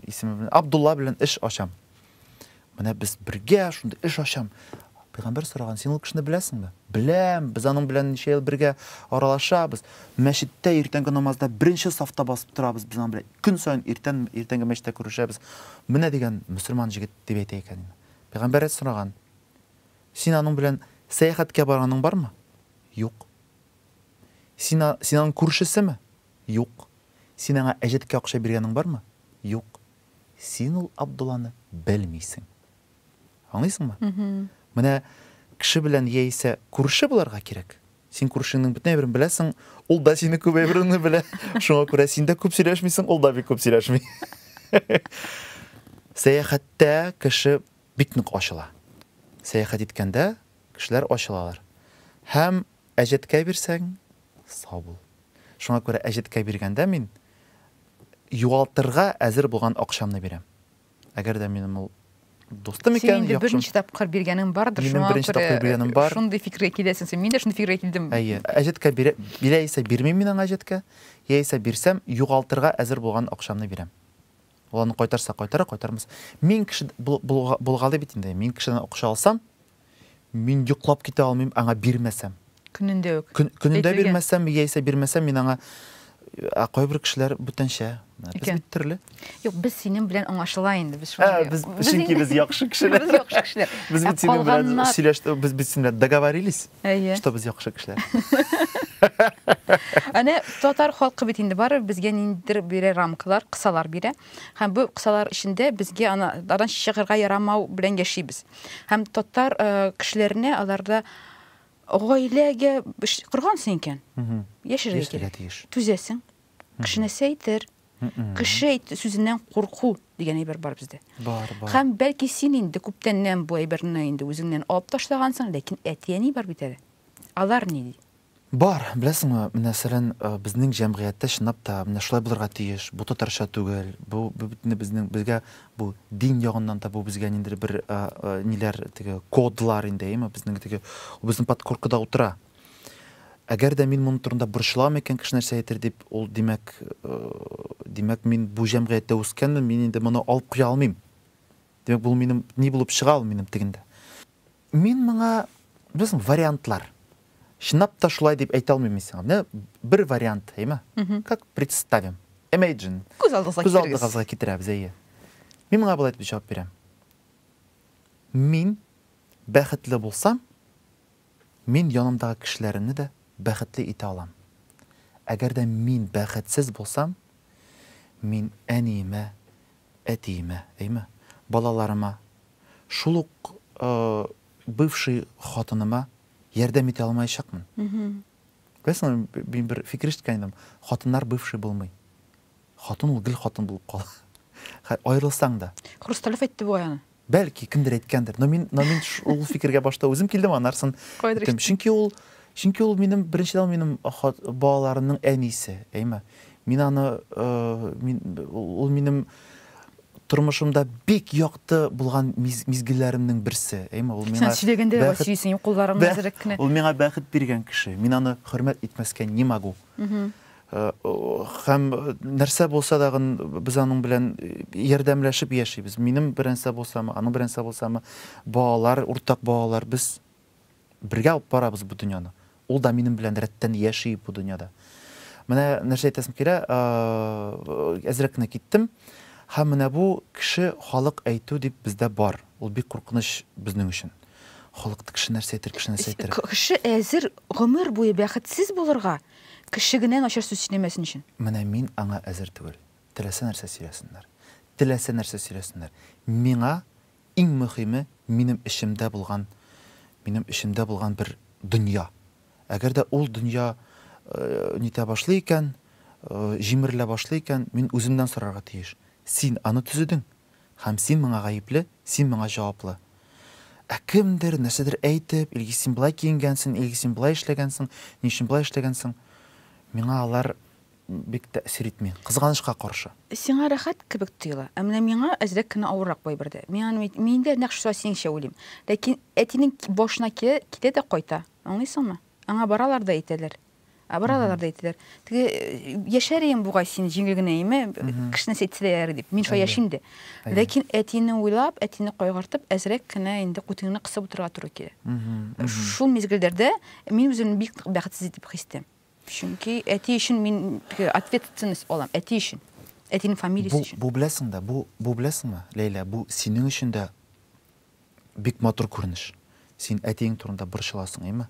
исеме белән Абдулла белән эш ачам. Менә без бергә шундый эш ачам. Пәйгамбәр сораган, син ул кешене беләсеңме? Беләм, без аның белән ничә ел бергә аралашабыз. Мәчеттә иртәнге намазда беренче сафта басып торабыз без аның белән. Көн саен иртән иртәнге мәчеттә күрешәбез. Менә дигән мөселман җегет дип әйтә икән. Пәйгамбәр сораган, син аның белән сәяхәткә барганың бармы? Юк. Син, син аның күршесеме? Юк. Син аңа әҗәткә акча биргәнең бармы? Юк. Син ул Абдулланы белмисең. Аңлыйсыңмы? Менә кеше белән яисә күрше буларга кирәк. Син күршеңнең бөтен әйберен беләсең, ул да синең күп әйбереңне белә. Шуңа күрә син дә күп сөйләшмисең, ул да бик күп сөйләшми. Сәяхәттә кеше бик нык ачыла. Сәяхәт иткәндә кешеләр ачылалар. Һәм Әҗәткә бирсәң, сау бул. Шуңа күрә әҗәткә биргәндә мин югалтырга әзер булган акчамны бирәм. Әгәр дә минем ул дустым икән, яхшым. Син инде берничә тапкыр биргәнең бардыр, шуңа күрә. Минем берничә тапкыр биргәнем бар. Шундый фикергә киләсең син. Мин дә шундый фикергә килдем. Әйе. Әҗәткә бирә, бирә исә бирмим мин аңа әҗәткә. Яисә бирсәм, югалтырга әзер булган акчамны бирәм. Ул аны кайтарса кайтара, кайтармаса. Мин кеше булгалый бит инде. Мин кешедән акча алсам, Мин йоклап китә алмыйм аңа бирмәсәм. Көнендә үк. Көнендә бирмәсәм, яисә бирмәсәм, мин аңа Ә кайбер кешеләр бүтәнчә. Без бит төрле. Юк, без синең белән аңлашыла инде. Без шулай. Без чөнки без яхшы кешеләр. Без яхшы кешеләр. Без бит синең белән сөйләштек, без бит синең белән договорились, что без яхшы кешеләр. Әнә татар халкы бит инде барыбер безгә ниндидер бирә рамкалар, кысалар бирә. Һәм бу кысалар эчендә безгә ана адан чыгарга ярамау белән яшибез. Һәм татар кешеләренә аларда гаиләгә коргансың икән. Яшәргә кирәк. Түзәсең. Кеше нәрсә әйтер? Кеше сүзеннән курку дигән әйбер бар бездә. Бар, бар. Һәм бәлки син инде күптәннән бу әйберне инде үзеңнән алып ташлагансың, ләкин әти-әни бар бит әле. Алар ни ди? Бар, беләсеңме, менә сәлән, безнең җәмгыятьтә чынлап та менә шулай булырга тиеш, бу татарча түгел, бу бөтенләй безнең, безгә бу дин ягыннан да бу безгә ниндидер бер ниләр теге кодлар инде, әйеме, безнең теге ул безнең подкоркада утыра. Әгәр дә мин моның турында борчылам икән, кеше нәрсә әйтер дип, ул димәк, димәк, мин бу җәмгыятьтә үскәнмен, мин инде моны алып куя алмыйм. Димәк, бу минем ни булып чыга ул минем тегендә? Мин моңа, беләсең, вариантлар. Чынлап та шулай дип әйтә алмыйм мин сиңа. Менә бер вариант, әйме? Как представим? Imagine. Күз алдыгызга китерегез. Күз алдыгызга китерәбез, әйе. Мин моңа болай дип җавап бирәм. Мин бәхетле булсам, Мин янымдагы кешеләремне дә бәхетле итә алам. Әгәр дә мин бәхетсез булсам, мин әниемә, әтиемә, әйме, балаларыма, шул ук бывший хатыныма ярдәм итә алмаячакмын. Беләсеңме, мин бер фикер ишеткәнем, хатыннар бывший булмый. Хатын ул гел хатын булып кала. Аерылсаң да. Хрусталев әйтте бугай аны. Бәлки, кемдер әйткәндер, но мин, но мин ул фикергә башта үзем килдем, анарсын иттем. Чөнки ул, чөнки ул минем, беренчедән ул минем балаларымның әнисе, әйме. Мин аны, э, мин, ул минем тормышымда бик якты булган миз, мизгелләремнең берсе, әйме. Ул миңа Сән сөйләгәндә дә сөйсең, кулларың әзрәк кенә. Ул миңа бәхет биргән кеше. Мин аны хөрмәт итмәскә не могу. Һәм нәрсә булса да без аның белән ярдәмләшеп яшибез. Минем беренсә булсамы, аның беренсә булсамы, балалар, уртак балалар, без бергә алып барабыз бу дөньяны. Ул да минем белән рәттән яши бу дөньяда. Менә нәрсә әйтәсем килә, әзрәк кенә киттем. Һәм менә бу кеше халык әйтү дип бездә бар. Ул бик куркыныч безнең өчен. Халык кеше нәрсә әйтер, кеше нәрсә әйтер. Кеше әзер гомер буе бәхетсез булырга, Кеше генә начар сүз сөйләмәсен өчен. Менә мин аңа әзер түгел. Теләсә нәрсә сөйләсеннәр. Теләсә нәрсә сөйләсеннәр. Миңа иң мөхиме минем эчемдә булган, минем эчемдә булган бер дөнья. Әгәр дә ул дөнья нитә башлый икән, җимерелә башлый икән, мин үземнән сорарга тиеш, Син аны төзедең? Һәм син моңа гаепле, син моңа җаваплы. Ә кемдер, нәрсәдер әйтеп, Илгиз, син болай киенгәнсең, Илгиз, син болай эшләгәнсең, ни өчен болай эшләгәнсең? Миңа алар бик тәэсир итми, кызганычка каршы. Сиңа рәхәт кебек тоела, ә менә миңа әзрәк кенә авыррак бу әйбер дә. Мин аны, мин дә нәкъ шулай синеңчә уйлыйм. Ләкин әтинең башына килә, китә дә кайта, аңлыйсыңмы? Аңа баралар да әйтәләр. Ә баралар да әйтәләр, теге яшәр идең бугай син җиңел генә име, кешене сәйтсәләр дип, мин шулай яшим дә. Ләкин әтине уйлап, әтине кайгыртып, әзрәк кенә инде күтеңне кысып утырырга туры килә. Шул мизгелләрдә мин үземне бик бәхетсез итеп хис итәм. Чөнки әти өчен мин ответственность алам, әти өчен. Әтинең фамилиясе өчен. Бу, бу беләсең дә, бу, бу беләсеңме, Ләйлә, бу синең өчен дә Бик матур күренеш. Син әтиең турында борчыласың, әйме?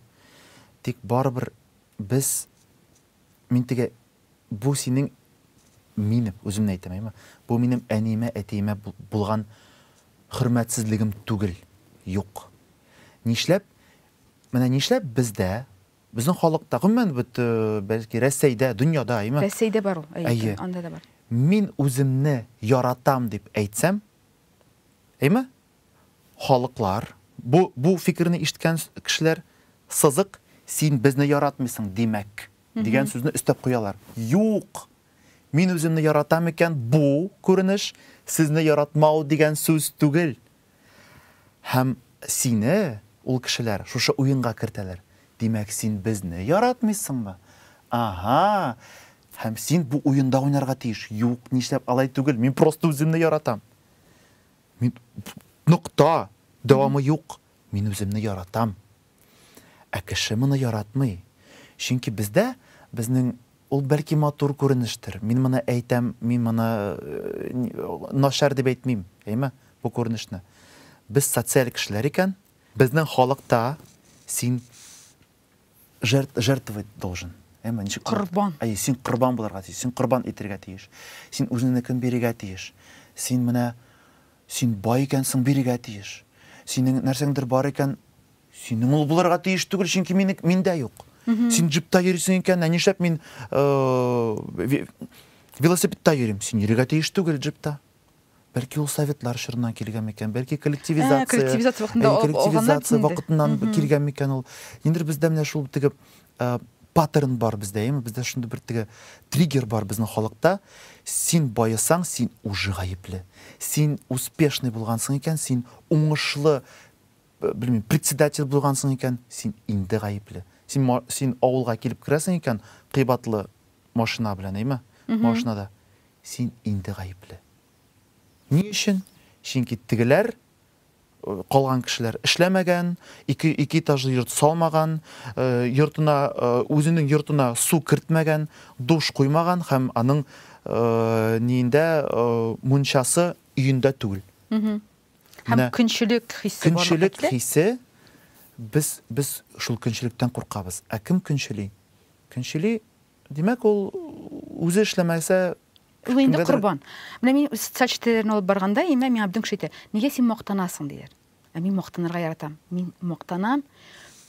Тик барыбер без мин теге бу синең минем үземне әйтәм, әйме? Бу минем әниемә, әтиемә булган хөрмәтсезлегем түгел. Юк. Нишләп менә нишләп бездә безнең халыкта, гомумән бит, бәлки Рәсәйдә, дөньяда, әйме? Рәсәйдә бар ул, әйе, анда да бар. Мин үземне яратам дип әйтсәм, Әйме? Халыклар, бу, бу фикерне ишеткән кешеләр, сызык, син безне яратмыйсың, димәк, дигән сүзне өстәп куялар. Юк! Мин үземне яратам икән, бу, күренеш, сезне яратмау дигән сүз түгел. Һәм сине ул кешеләр шушы уенга кертәләр. Димәк, син безне яратмыйсыңмы? Аһа! Һәм син бу уенда уйнарга тиеш. Юк, нишләп алай түгел, мин просто үземне яратам. Мин нокта, дәвамы юк. Мин үземне яратам. Ә кеше моны яратмый. Чөнки бездә, безнең ул бәлки матур күренештер. Мин моны әйтәм, мин моны начар дип әйтмим, әйме, бу күренешне. Без социаль кешеләр икән, безнең халыкта син жертвовать должен әмма ничек корбан әйе син корбан булырга тиеш син корбан итәргә тиеш син үзеңнекен бирергә тиеш син менә син бай икәнсең бирергә тиеш синең нәрсәңдер бар икән синең ул булырга тиеш түгел чөнки мине миндә юк син джипта йөрисең икән ә нишләп мин э, велосипедта йөрим син йөрергә тиеш түгел джипта Бәлки ул советлар чорыннан килгән микән? Бәлки коллективизация, ә, коллективизация вакытында, ә, коллективизация вакытыннан mm -hmm. килгән микән ул? Ниндидер бездә менә шул теге ә, паттерн бар бездә, яме бездә шундый бер теге триггер бар безнең халыкта. Син баесаң, син уже гаепле. Син успешный булгансың икән, син уңышлы белмим, председатель булгансың икән, син инде гаепле. Син син авылга килеп керәсең икән, кыйбатлы машина белән, әйме? Машинада. Син инде гаепле. Ни өчен? Чөнки тегеләр, калган кешеләр эшләмәгән, ике, ике этажлы йорт салмаган, йортына, үзенең йортына су кертмәгән, душ куймаган һәм аның ниендә мунчасы өендә түгел. Һәм көнчелек хисе бар. Көнчелек хисе без без шул көнчелектән куркабыз. Ә кем көнчели? Көнчели Димәк, ул үзе эшләмәсә, Ул инде кемгәдер- корбан. Менә мин социаль челтәрләрне алып барганда, имә миңа бөтен кеше әйтә, нигә син мактанасың, диләр. Ә мин мактанырга яратам. Мин мактанам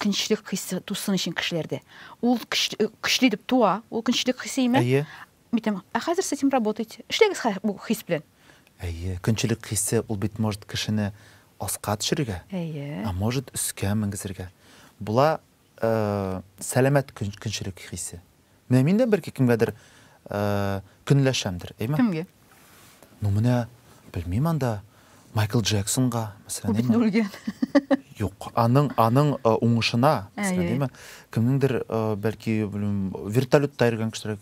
көнчлек хисе тусын өчен кешеләрдә. Ул көч- э, көчле итеп туа, ул көнчлек хисе имә. Әйе. Мин әйтәм, ә хәзер с этим работайте. Эшләгез хә- бу хис белән. Әйе, көнчлек хисе ул бит может кешене аска төшерергә, Әйе. ә может өскә менгезергә була. Сәламәт көнчелек хисе. Менә мин дә берке кемгәдер көнләшәмдер, әйме? Кемгә? Ну, менә белмим анда Майкл Джексонга, мәсәлән, әйме? Бит үлгән. Юк, аның аның уңышына, мәсәлән, әйме? Кемнеңдер, бәлки, белмим, вертолетта йөргән кешеләр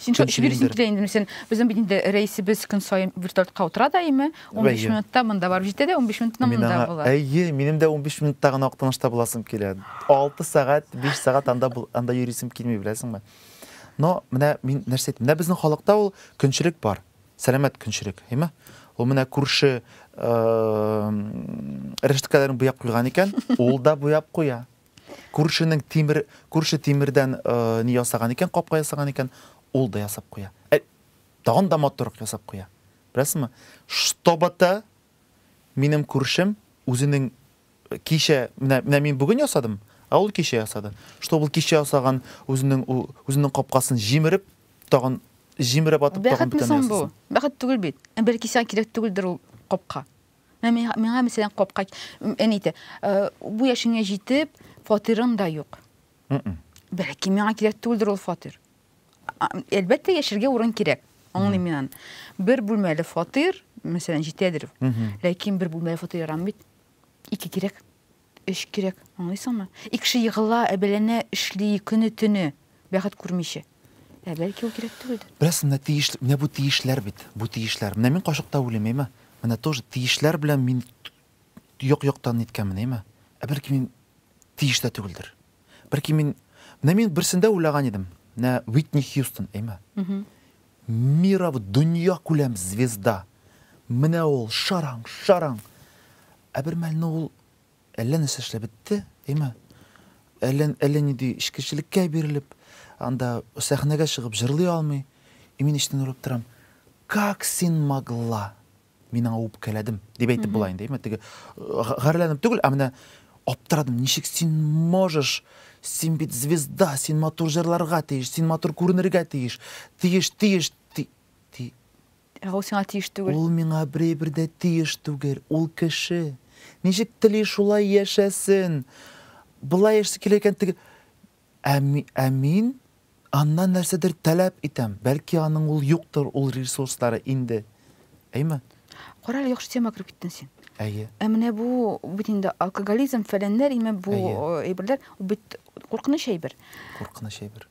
Син шул ишеге дөресен килә инде. Сен безнең бит инде рәисебез көн саен вертолетка утыра да име? 15 минутта монда барып җитә дә 15 минутта монда була. Әйе, минем дә 15 минутта гына Актанышта буласым килә. 6 сәгать, 5 сәгать анда анда йөрисем килми, беләсеңме? Но менә мин нәрсә әйтим? Менә безнең халыкта ул көнчелек бар. Сәламәт көнчелек, әйме? Ул менә күрше рәшткәләрен буяп куйган икән, ул да буяп куя. Күршенең тимер, күрше тимердән э, ни ясаган икән, капка ясаган икән, ул да ясап куя. Ә, тагын да матуррак ясап куя. Беләсезме? Штобата минем күршем үзенең э, кичә, менә, менә мин бүген ясадым, ә ул кичә ясады. Чтобы ул кичә ясаган үзенең, үзенең капкасын җимереп, тагын җимереп атып, тагын Бәхетме бөтен соң бу? ясасын. Бәхет түгел бит. Ә Бәлки сиңа кирәк түгелдер ул капка. Ә миңа, миңа мәсәлән, капка м, әни әйтә, «Э, бу яшеңә җитеп, фатирың да юк. Мгм. Бәлки миңа кирәк түгелдер ул фатир. А, Әлбәттә, яшәргә урын кирәк. Аңлыйм мин аны. Бер бүлмәле фатир, мәсәлән, җитәдер. Мгм. Ләкин бер бүлмәле фатир ярамый бит. Ике кирәк. Эш кирәк, аңлыйсыңмы? И кеше егыла, әбәләнә, эшли, көне-төне, бәхет күрмичә. Ә бәлки ул кирәк түгелдер? Беләсең, менә тиеш, менә бу тиешләр бит, бу тиешләр. Менә мин кашыкта үлим, әйме? Менә тоже тиешләр белән мин як-яктан ниткәнмен, әйме? Ә бәлки мин тиеш тә түгелдер? Бәлки мин, менә мин берсендә уйлаган идем, менә Уитни Хьюстон, әйме? Миров дөньякүләм звезда! Менә ул, шараң, шараң! Ә бер мәлне ул әллә нәрсә эшләп бетте, әйме? Әллә, әллә нинди эчкечелеккә бирелеп, анда сәхнәгә чыгып җырлый алмый. И мин эчтән уйлап торам, Как син могла? Мин аңа үпкәләдем, дип әйтеп була инде, әйме, теге гарьләнеп түгел, ә менә аптырадым, ничек син можешь син бит звезда, син матур җырларга тиеш, син матур күренергә тиеш, тиеш, тиеш, ти, ти. Ә ул сиңа тиеш түгел. Ул миңа берәйбер дә тиеш түгел, ул кеше. Ничек тели шулай яшәсен. Болай яшәсе килә икән, теге Ә, ә мин аннан нәрсәдер таләп итәм. Бәлки аның ул юктыр, ул ресурслары инде. Әйме? Кара әле, яхшы тема кереп киттен син. Әйе. Ә менә бу бит инде алкоголизм, фәләннәр име бу әйберләр, бит куркыныч әйбер. Куркыныч әйбер.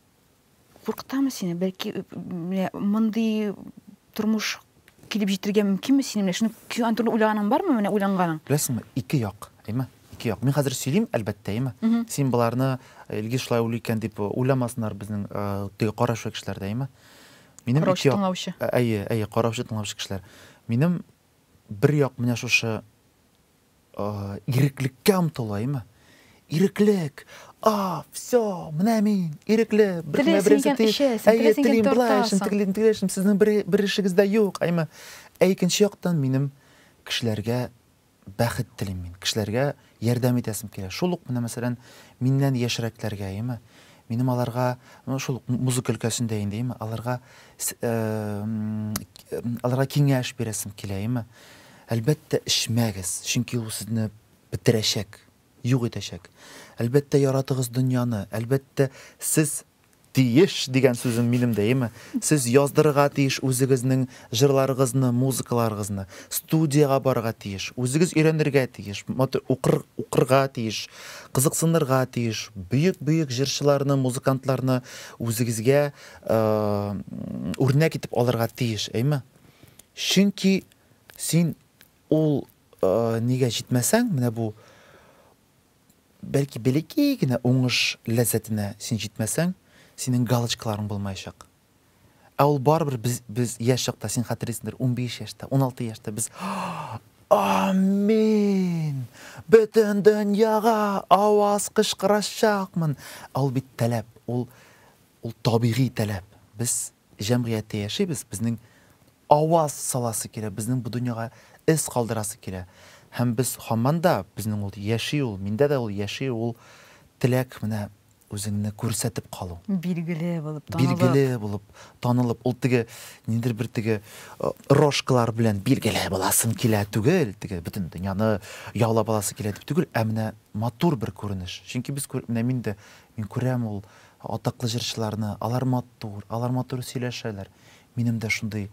Куркытамы сине? Бәлки менә мондый Тормыш килеп җитәргә мөмкинме синең белән? Шуны килгән төрле уйлаганың бармы менә уйланганың? Беләсеңме, ике як, әйме? Ике як. Мин хәзер сөйлим, әлбәттә, әйме? Син боларны, Илгиз шулай уйлый икән дип уйламасыннар безнең теге караучы кешеләр дә, әйме? Минем ике як. Караучы тыңлаучы. Әйе, әйе, караучы тыңлаучы кешеләр. Минем бер як менә шушы Иреклеккә омтылаймы? Иреклек! А, всё, менә мин, ирекле, беркемгә бер нәрсә тели, әйе, телим, болай эшлим, тегелим, тегеләй эшлим, сезнең бер эшегез дә юк, әйме? Ә икенче яктан минем кешеләргә бәхет телим мин, кешеләргә ярдәм итәсем килә. Шул ук менә, мәсәлән, миннән яшьрәкләргә, әйме? Минем аларга, ну, шул ук музыка өлкәсендә инде, әйме, аларга, аларга киңәш бирәсем килә, әйме? Әлбәттә, эчмәгез, чөнки ул сезне бетерәчәк, юк итәчәк. Әлбәттә, яратыгыз дөньяны, әлбәттә, сез тиеш дигән сүзем минем дә, әйеме? Сез яздырырга тиеш үзегезнең җырларыгызны, музыкаларыгызны, студиягә барырга тиеш, үзегез өйрәнергә тиеш, укыр, укырга тиеш, кызыксынырга тиеш, бөек-бөек җырчыларны, музыкантларны үзегезгә, э, үрнәк итеп алырга тиеш, әйеме? Чөнки Син ул нигә җитмәсәң, менә бу бәлки бәләкәй генә уңыш ләззәтенә син җитмәсәң, синең галочкаларың булмаячак. Ә ул барыбер без, без яшь чакта, син хәтерлисеңдер, 15 яшьтә, 16 яшьтә без Амин! Бөтен дөньяга аваз кычкырачакмын! Ә ул бит таләп, ул, ул табигый таләп. Без Җәмгыятьтә яшибез, безнең аваз саласы килә, безнең бу дөньяга эз калдырасы килә. Һәм без һаман да, безнең ул, яши ул, миндә дә ул яши, ул теләк, менә үзеңне күрсәтеп калу. Билгеле булып, танылып. Билгеле булып, танылып. Ул теге, ниндидер бер теге рожкалар белән билгеле буласым килә түгел, теге бөтен дөньяны яулап аласы килә дип түгел, ә менә матур бер күренеш. Чөнки без күр, менә мин дә, мин күрәм ул, Атаклы җырчыларны, алар матур, алар матур сөйләшәләр. Минем дә шундый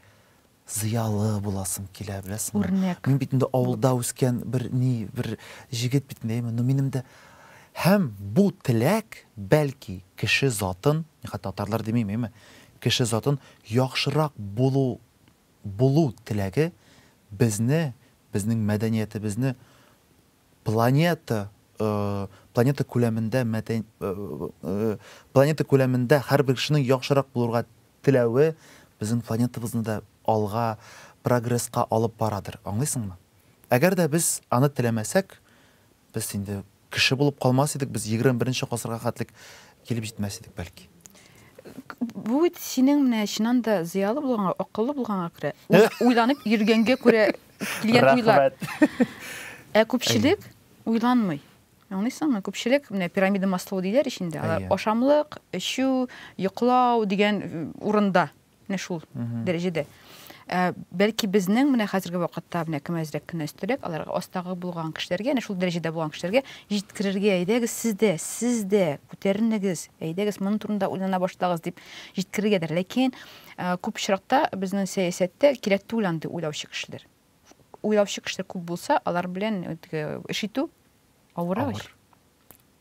зыялы буласым килә, беләсеңме. Үрнәк. Мин бит инде авылда үскән бер ни, бер җегет бит инде, әйеме, но минем дә Һәм бу теләк, бәлки, кеше затын, мин хәтта татарлар димим, әйеме, кеше затын яхшырак булу булу теләге безне, безнең мәдәниятебезне Планета планета күләмендә мәдән планета күләмендә һәрбер кешенең яхшырак булырга теләве безнең планетабызны да алга, прогресска алып барадыр. Аңлыйсыңмы? Әгәр дә без аны теләмәсәк, без инде кеше булып калмас идек, без 21 гасырга хәтлек килеп җитмәс идек, бәлки. Бу бит синең менә чыннан да зыялы булганга, акыллы булганга күрә, уйланып йөргәнгә күрә килгән уйлар. Ә күпчелек уйланмый. Аңлыйсыңмы? Күпчелек менә пирамида маслоу диләр ичендә. Алар ашамлык, эчү, йоклау дигән урында. Менә шул дәрәҗәдә. Ә, бәлки безнең менә хәзерге вакытта менә кем әзрәк кенә өстәрәк, аларга астагы булган кешеләргә, әнә шул дәрәҗәдә булган кешеләргә җиткерергә, әйдәгез сез дә, сез дә күтәренегез, әйдәгез моның турында уйлана башлагыз дип җиткерергәдер. Ләкин Күп очракта безнең сәясәттә кирәк түгел андый уйлаучы кешеләр. Уйлаучы кешеләр күп булса, алар белән теге эш итү авыр ич. Авыр.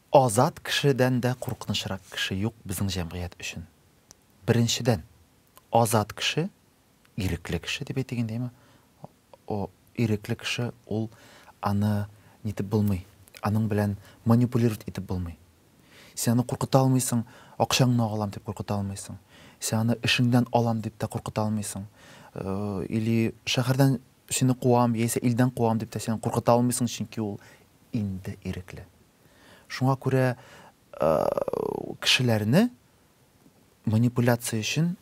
Азат кешедән дә куркынычрак кеше юк безнең җәмгыять өчен. Беренчедән, азат кеше, ирекле кеше дип әйтик инде, әйеме? О, ирекле кеше, ул аны нитеп булмый, аның белән манипулировать итеп булмый. Син аны куркыта алмыйсың, акчаңны алам дип куркыта алмыйсың. Син аны эшеңдән алам дип тә куркыта алмыйсың. Э, или шәһәрдән сине куам, яисә илдән куам дип тә син куркыта алмыйсың, чөнки ул инде ирекле. Шуңа күрә э, кешеләрне Манипуляция өчен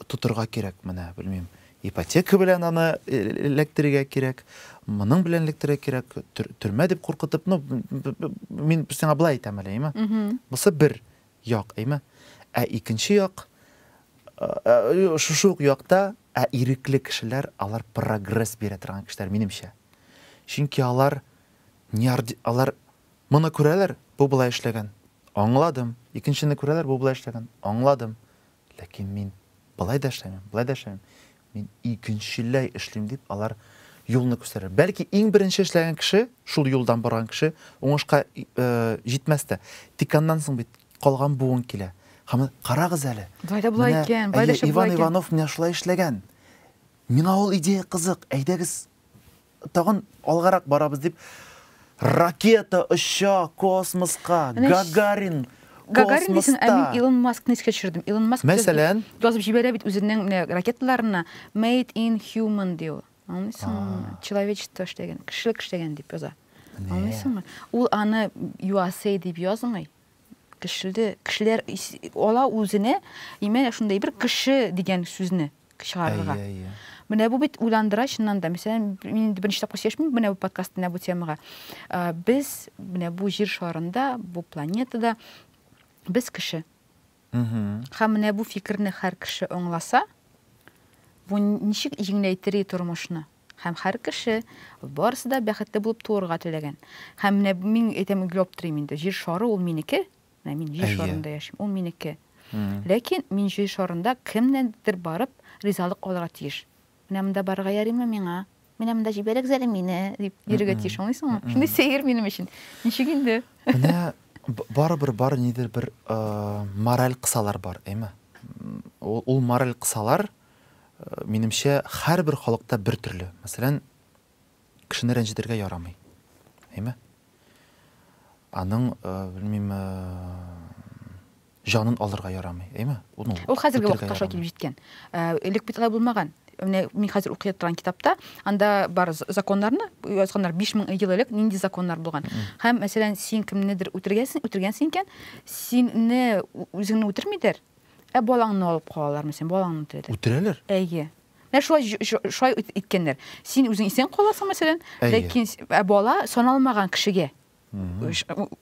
тотырга кирәк менә, белмим, ипотека белән аны эләктерергә кирәк, моның белән эләктерергә кирәк, төрмә дип куркытып, ну, мин сиңа былай әйтәм әле, әйме? Бусы бер як, әйме? Ә икенче як, шушы ук якта, ә ирекле кешеләр, алар прогресс бирә торган кешеләр, минемчә. Чөнки алар, алар, Моны күрәләр, бу болай эшләгән. Аңладым. Икенчене күрәләр, бу болай эшләгән. Аңладым. Ләкин мин болай да эшләмим, болай да эшләмим. Мин икенчеләй эшлим, дип алар юлны күрсәтәләр. Бәлки иң беренче эшләгән кеше, шул юлдан барган кеше уңышка җитмәс тә. Тик аннан соң бит калган буын килә. Һәм карагыз әле. Болай да болай икән, болай да шулай икән. Иван Иванов менә шулай эшләгән. Миңа ул идея кызык. Әйдәгез, тагын алгарак барабыз дип, ракета оча космоска, Гагарин Гагарин дисең, ә мин Илон Маскны искә төшердем. Илон Маск Мәсәлән, язып җибәрә бит үзенең менә ракеталарына Made in Human дип. Аңлыйсыңмы? Человечество эшләгән, кешелек эшләгән дип яза. Аңлыйсыңмы? Ул аны USA дип язмый. Кешелде, кешеләр ала үзенә, имән шундай бер кеше дигән сүзне чыгарырга. Менә бу бит уйландыра чыннан да. Мәсәлән, мин инде беренче тапкыр сөйләшмим менә бу подкаст менә бу темага. Без менә бу җир шарында, бу планетада без кеше. Һәм менә бу фикерне һәр кеше аңласа, бу ничек җиңеләйтер тормышны? Һәм һәр кеше, барысы да бәхетле булып туырга теләгән. Һәм менә мин әйтәм, гел аптырыйм инде, җир шары ул минеке, менә мин җир шарында яшим, ул минеке. Ләкин мин җир шарында кемнәндер барып ризалык алырга тиеш. Менә монда барырга ярыймы миңа? Менә монда җибәрегез әле мине, дип йөрергә тиеш, аңлыйсыңмы? Шундый сәер минем өчен. Ничек инде? Менә барыбер бар нидер бер мораль кысалар бар, әйме? Ул мораль кысалар, Минемчә, һәрбер халыкта бер төрле. Мәсәлән, кешене рәнҗетергә ярамый. Әйме? Аның, э, белмим, э, җанын алырга ярамый. Әйме? Ул Ул хәзерге вакытта шулай килеп җиткән. Э, элек бит алай булмаган. Менә мин хәзер укый торган китапта, анда бар законнарны язганнар 5000 ел элек нинди законнар булган. Һәм мәсәлән, син кемнедер үтергәнсең, үтергәнсең икән, синне үзеңне үтермидер, Ә балаңны алып калалармы син? Балаңны теләдең. Үтерәләр. Әйе. Менә шулай шулай иткәннәр. Син үзең исән каласың, мәсәлән, ләкин ә бала саналмаган кешегә.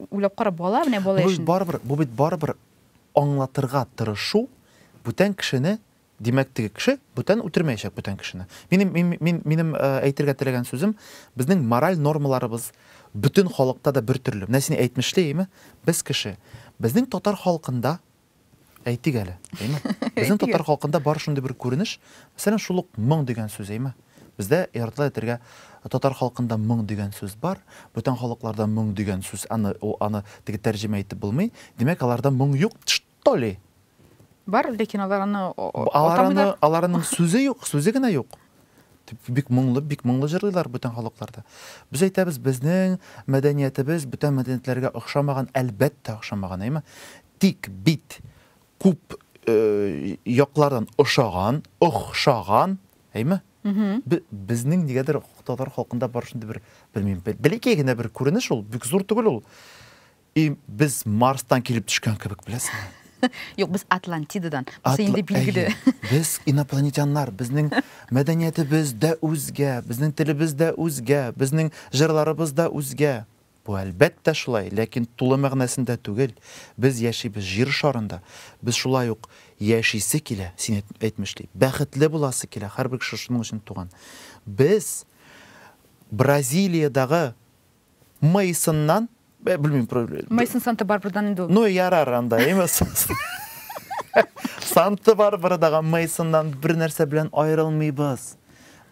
Уйлап кара, бала менә бала яшендә. Бу барыбер, бу бит барыбер аңлатырга тырышу, бүтән кешене, димәк, теге кеше бүтән үтермәячәк бүтән кешене. Минем мин, мин, минем э, әйтергә теләгән сүзем, безнең мораль нормаларыбыз бөтен халыкта да бер төрле. Менә син әйтмешли, әйме? Без кеше. Безнең татар халкында Әйтик әле, әйме? Безнең татар халкында бар шундый бер күренеш, мәсәлән, шул ук моң дигән сүз, әйме? Бездә ярдла әйтергә татар халкында моң дигән сүз бар, бүтән халыкларда моң дигән сүз, аны ул аны теге тәрҗемә итеп булмый. Димәк, аларда моң юк, что ли? Бар, ләкин алар аны атамыйлар. Аларның сүзе юк, сүзе генә юк. бик моңлы бик моңлы җырлыйлар бүтән халыкларда без әйтәбез безнең мәдәниятебез бүтән мәдәниятләргә охшамаган әлбәттә охшамаган әйме тик бит күп э, яклардан ошаган охшаган әйме безнең нигәдер татар халкында бар шундый бер белмим бәләкәй генә бер күренеш ул бик зур түгел ул И без Марстан килеп төшкән кебек, беләсеңме? Юк, без Атлантидадан. Бусы инде билгеле. Без инопланетяннар, безнең мәдәниятебез дә үзгә, безнең телебез дә үзгә, безнең җырларыбыз да үзгә. Бу әлбәттә шулай, ләкин тулы мәгънәсендә түгел. Без яшибез җир шарында. Без шулай ук яшисе килә, син әйтмешли. Бәхетле буласы килә, һәрбер кеше шуның өчен туган. Без Бразилиядагы мыйсыннан бә белмим мыйсын санты барбырдан инде ул ну ярар анда эми санты барбыры дагы мыйсыннан бер нәрсә белән аерылмыйбыз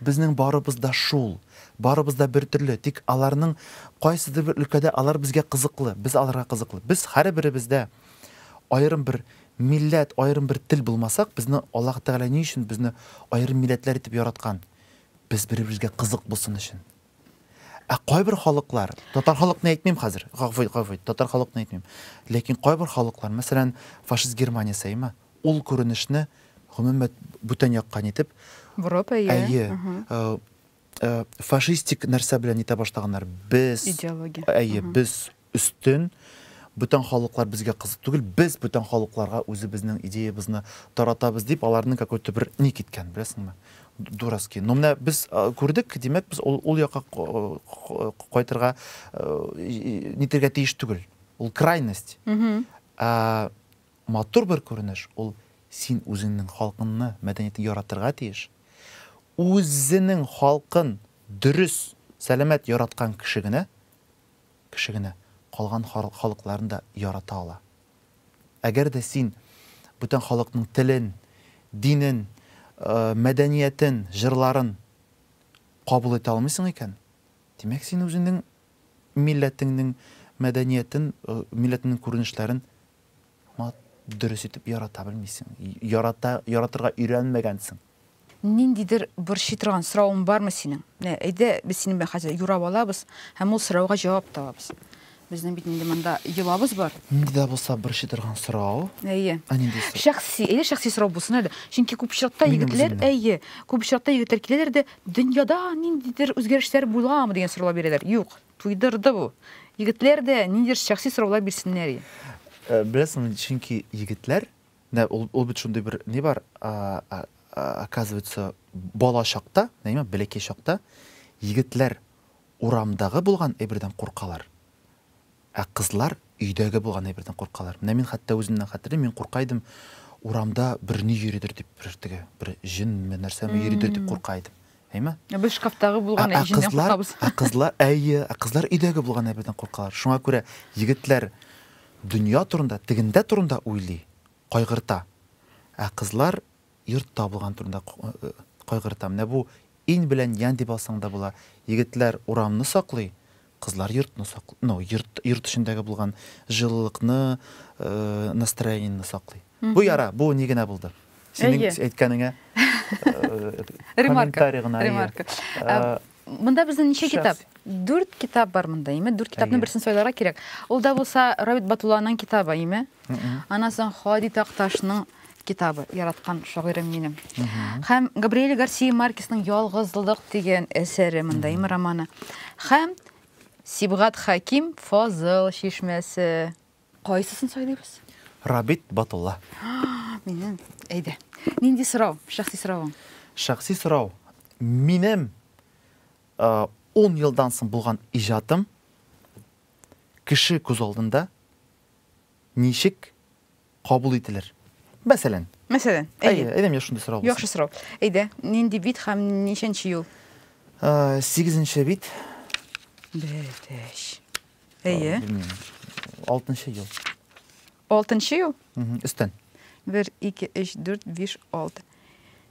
безнең барыбыз да шул барыбыз да бер төрле тик аларның кайсыдыр бер өлкәдә алар безгә кызыклы без аларга кызыклы без һәрберебездә аерым бер милләт аерым бер тел булмасак безне аллаһ тәгалә ни өчен безне аерым милләтләр итеп яраткан без бер-беребезгә кызык булсын өчен Ә кайбер халыклар, татар халыкны әйтмим хәзер, гафу ит, гафу ит, татар халыкны әйтмим. Ләкин кайбер халыклар, мәсәлән, фашист Германия сәйме, ул күренешне гомумән бүтән яктан итеп, Бурап, әйе. Әйе. Э, э, фашистик нәрсә белән итә башлаганнар. Без идеология. Әйе, без өстен, бүтән халыклар безгә кызык түгел, без бүтән халыкларга үзебезнең идеябызны таратабыз дип, аларның какой-то бер ник иткән, беләсеңме? Дурацкий. Но менә без күрдек, димәк, без ул, ул якка кайтырга нитергә тиеш түгел. Ул крайность. Ә матур бер күренеш, ул син үзеңнең халкыңны, мәдәниятне яратырга тиеш. Үзенең халкын дөрес, сәламәт яраткан кеше генә кеше генә калган халыкларын да ярата ала. Әгәр дә син бүтән халыкның телен, динен, мәдәниятен, җырларын кабул итә алмыйсың икән, димәк, син үзеңнең милләтеңнең мәдәниятен, милләтеңнең күренешләрен Мат, дөрес итеп ярата белмисең. Ярата, яратырга өйрәнмәгәнсең. Ниндидер борчый торган соравың бармы синең? Менә әйдә, без синең белән хәзер юрап алабыз һәм ул сорауга җавап табабыз. Безнең бит инде монда йолабыз бар. Нинди дә булса борчый торган сорау. Әйе. Ә нинди сорау? Шәхси, әйдә шәхси сорау булсын әле. Чөнки күп очракта Минем егетләр, үземнең. әйе, күп очракта егетләр киләләр дә, дөньяда ниндидер үзгәрешләр буламы дигән сораулар бирәләр. Юк, Туйдырды бу. Егетләр дә ниндидер шәхси сораулар бирсеннәр и. Беләсеңме, чөнки егетләр, менә ул ул бит шундый бер ни бар, оказывается, бала чакта, әйме, бәләкәй чакта егетләр урамдагы булган әйбердән куркалар, ә кызлар өйдәге булган әйбердән куркалар. Менә мин хәтта үземнән хәтерлим, мин курка идем, урамда берни йөридер дип, бер теге, бер җенме, нәрсәме йөридер дип курка идем. Әйме? Ә без шкафтагы булган әҗеннән куркабыз. Ә кызлар, әйе, ә кызлар өйдәге булган әбедән куркалар. Шуңа күрә егетләр дөнья турында, тегендә турында уйлый, кайгырта. Ә кызлар йортта булган турында кайгырта. Менә бу ин белән ян дип алсаң да була. Егетләр урамны саклый, Кызлар йортны сак, ну, йорт, йорт эчендәге булган җылылыкны, э, настроениены саклый. Бу яра, бу ни генә булды. Синең Әйе. әйткәнеңә э, Ремарка. комментарий гына. әйе. Ремарка. Э, Ә, Монда безнең ничә Шәхси. китап? Дүрт китап бар монда, име? Дүрт китапның Әйе. берсен сайларга кирәк. Ул да булса Равит Батулланың китабы, име? Аннан соң Хади Такташның китабы яраткан шагыйрем минем. Һәм Габриэль Гарсия Маркесның Ялгызлык дигән әсәре монда име романы. Һәм Сибгат Хаким Фазыл чишмәсе. Кайсысын сайлыйбыз? Рабит Батулла. Минем. Әйдә. Нинди сорау? Шәхси соравың. Шәхси сорау. Минем 10 э, елдан соң булган иҗатым кеше күз алдында ничек кабул ителер? Мәсәлән. Мәсәлән, әйе. Әйе, әйдәм, шундый сорау булсын. Яхшы сорау. Әйдә, нинди бит һәм ничәнче юл? Сигезенче бит. Бетеш. Әйе. Алтынчы юл. Алтынчы юл? Өстән. Бер, ике, өч, дүрт, биш, алты.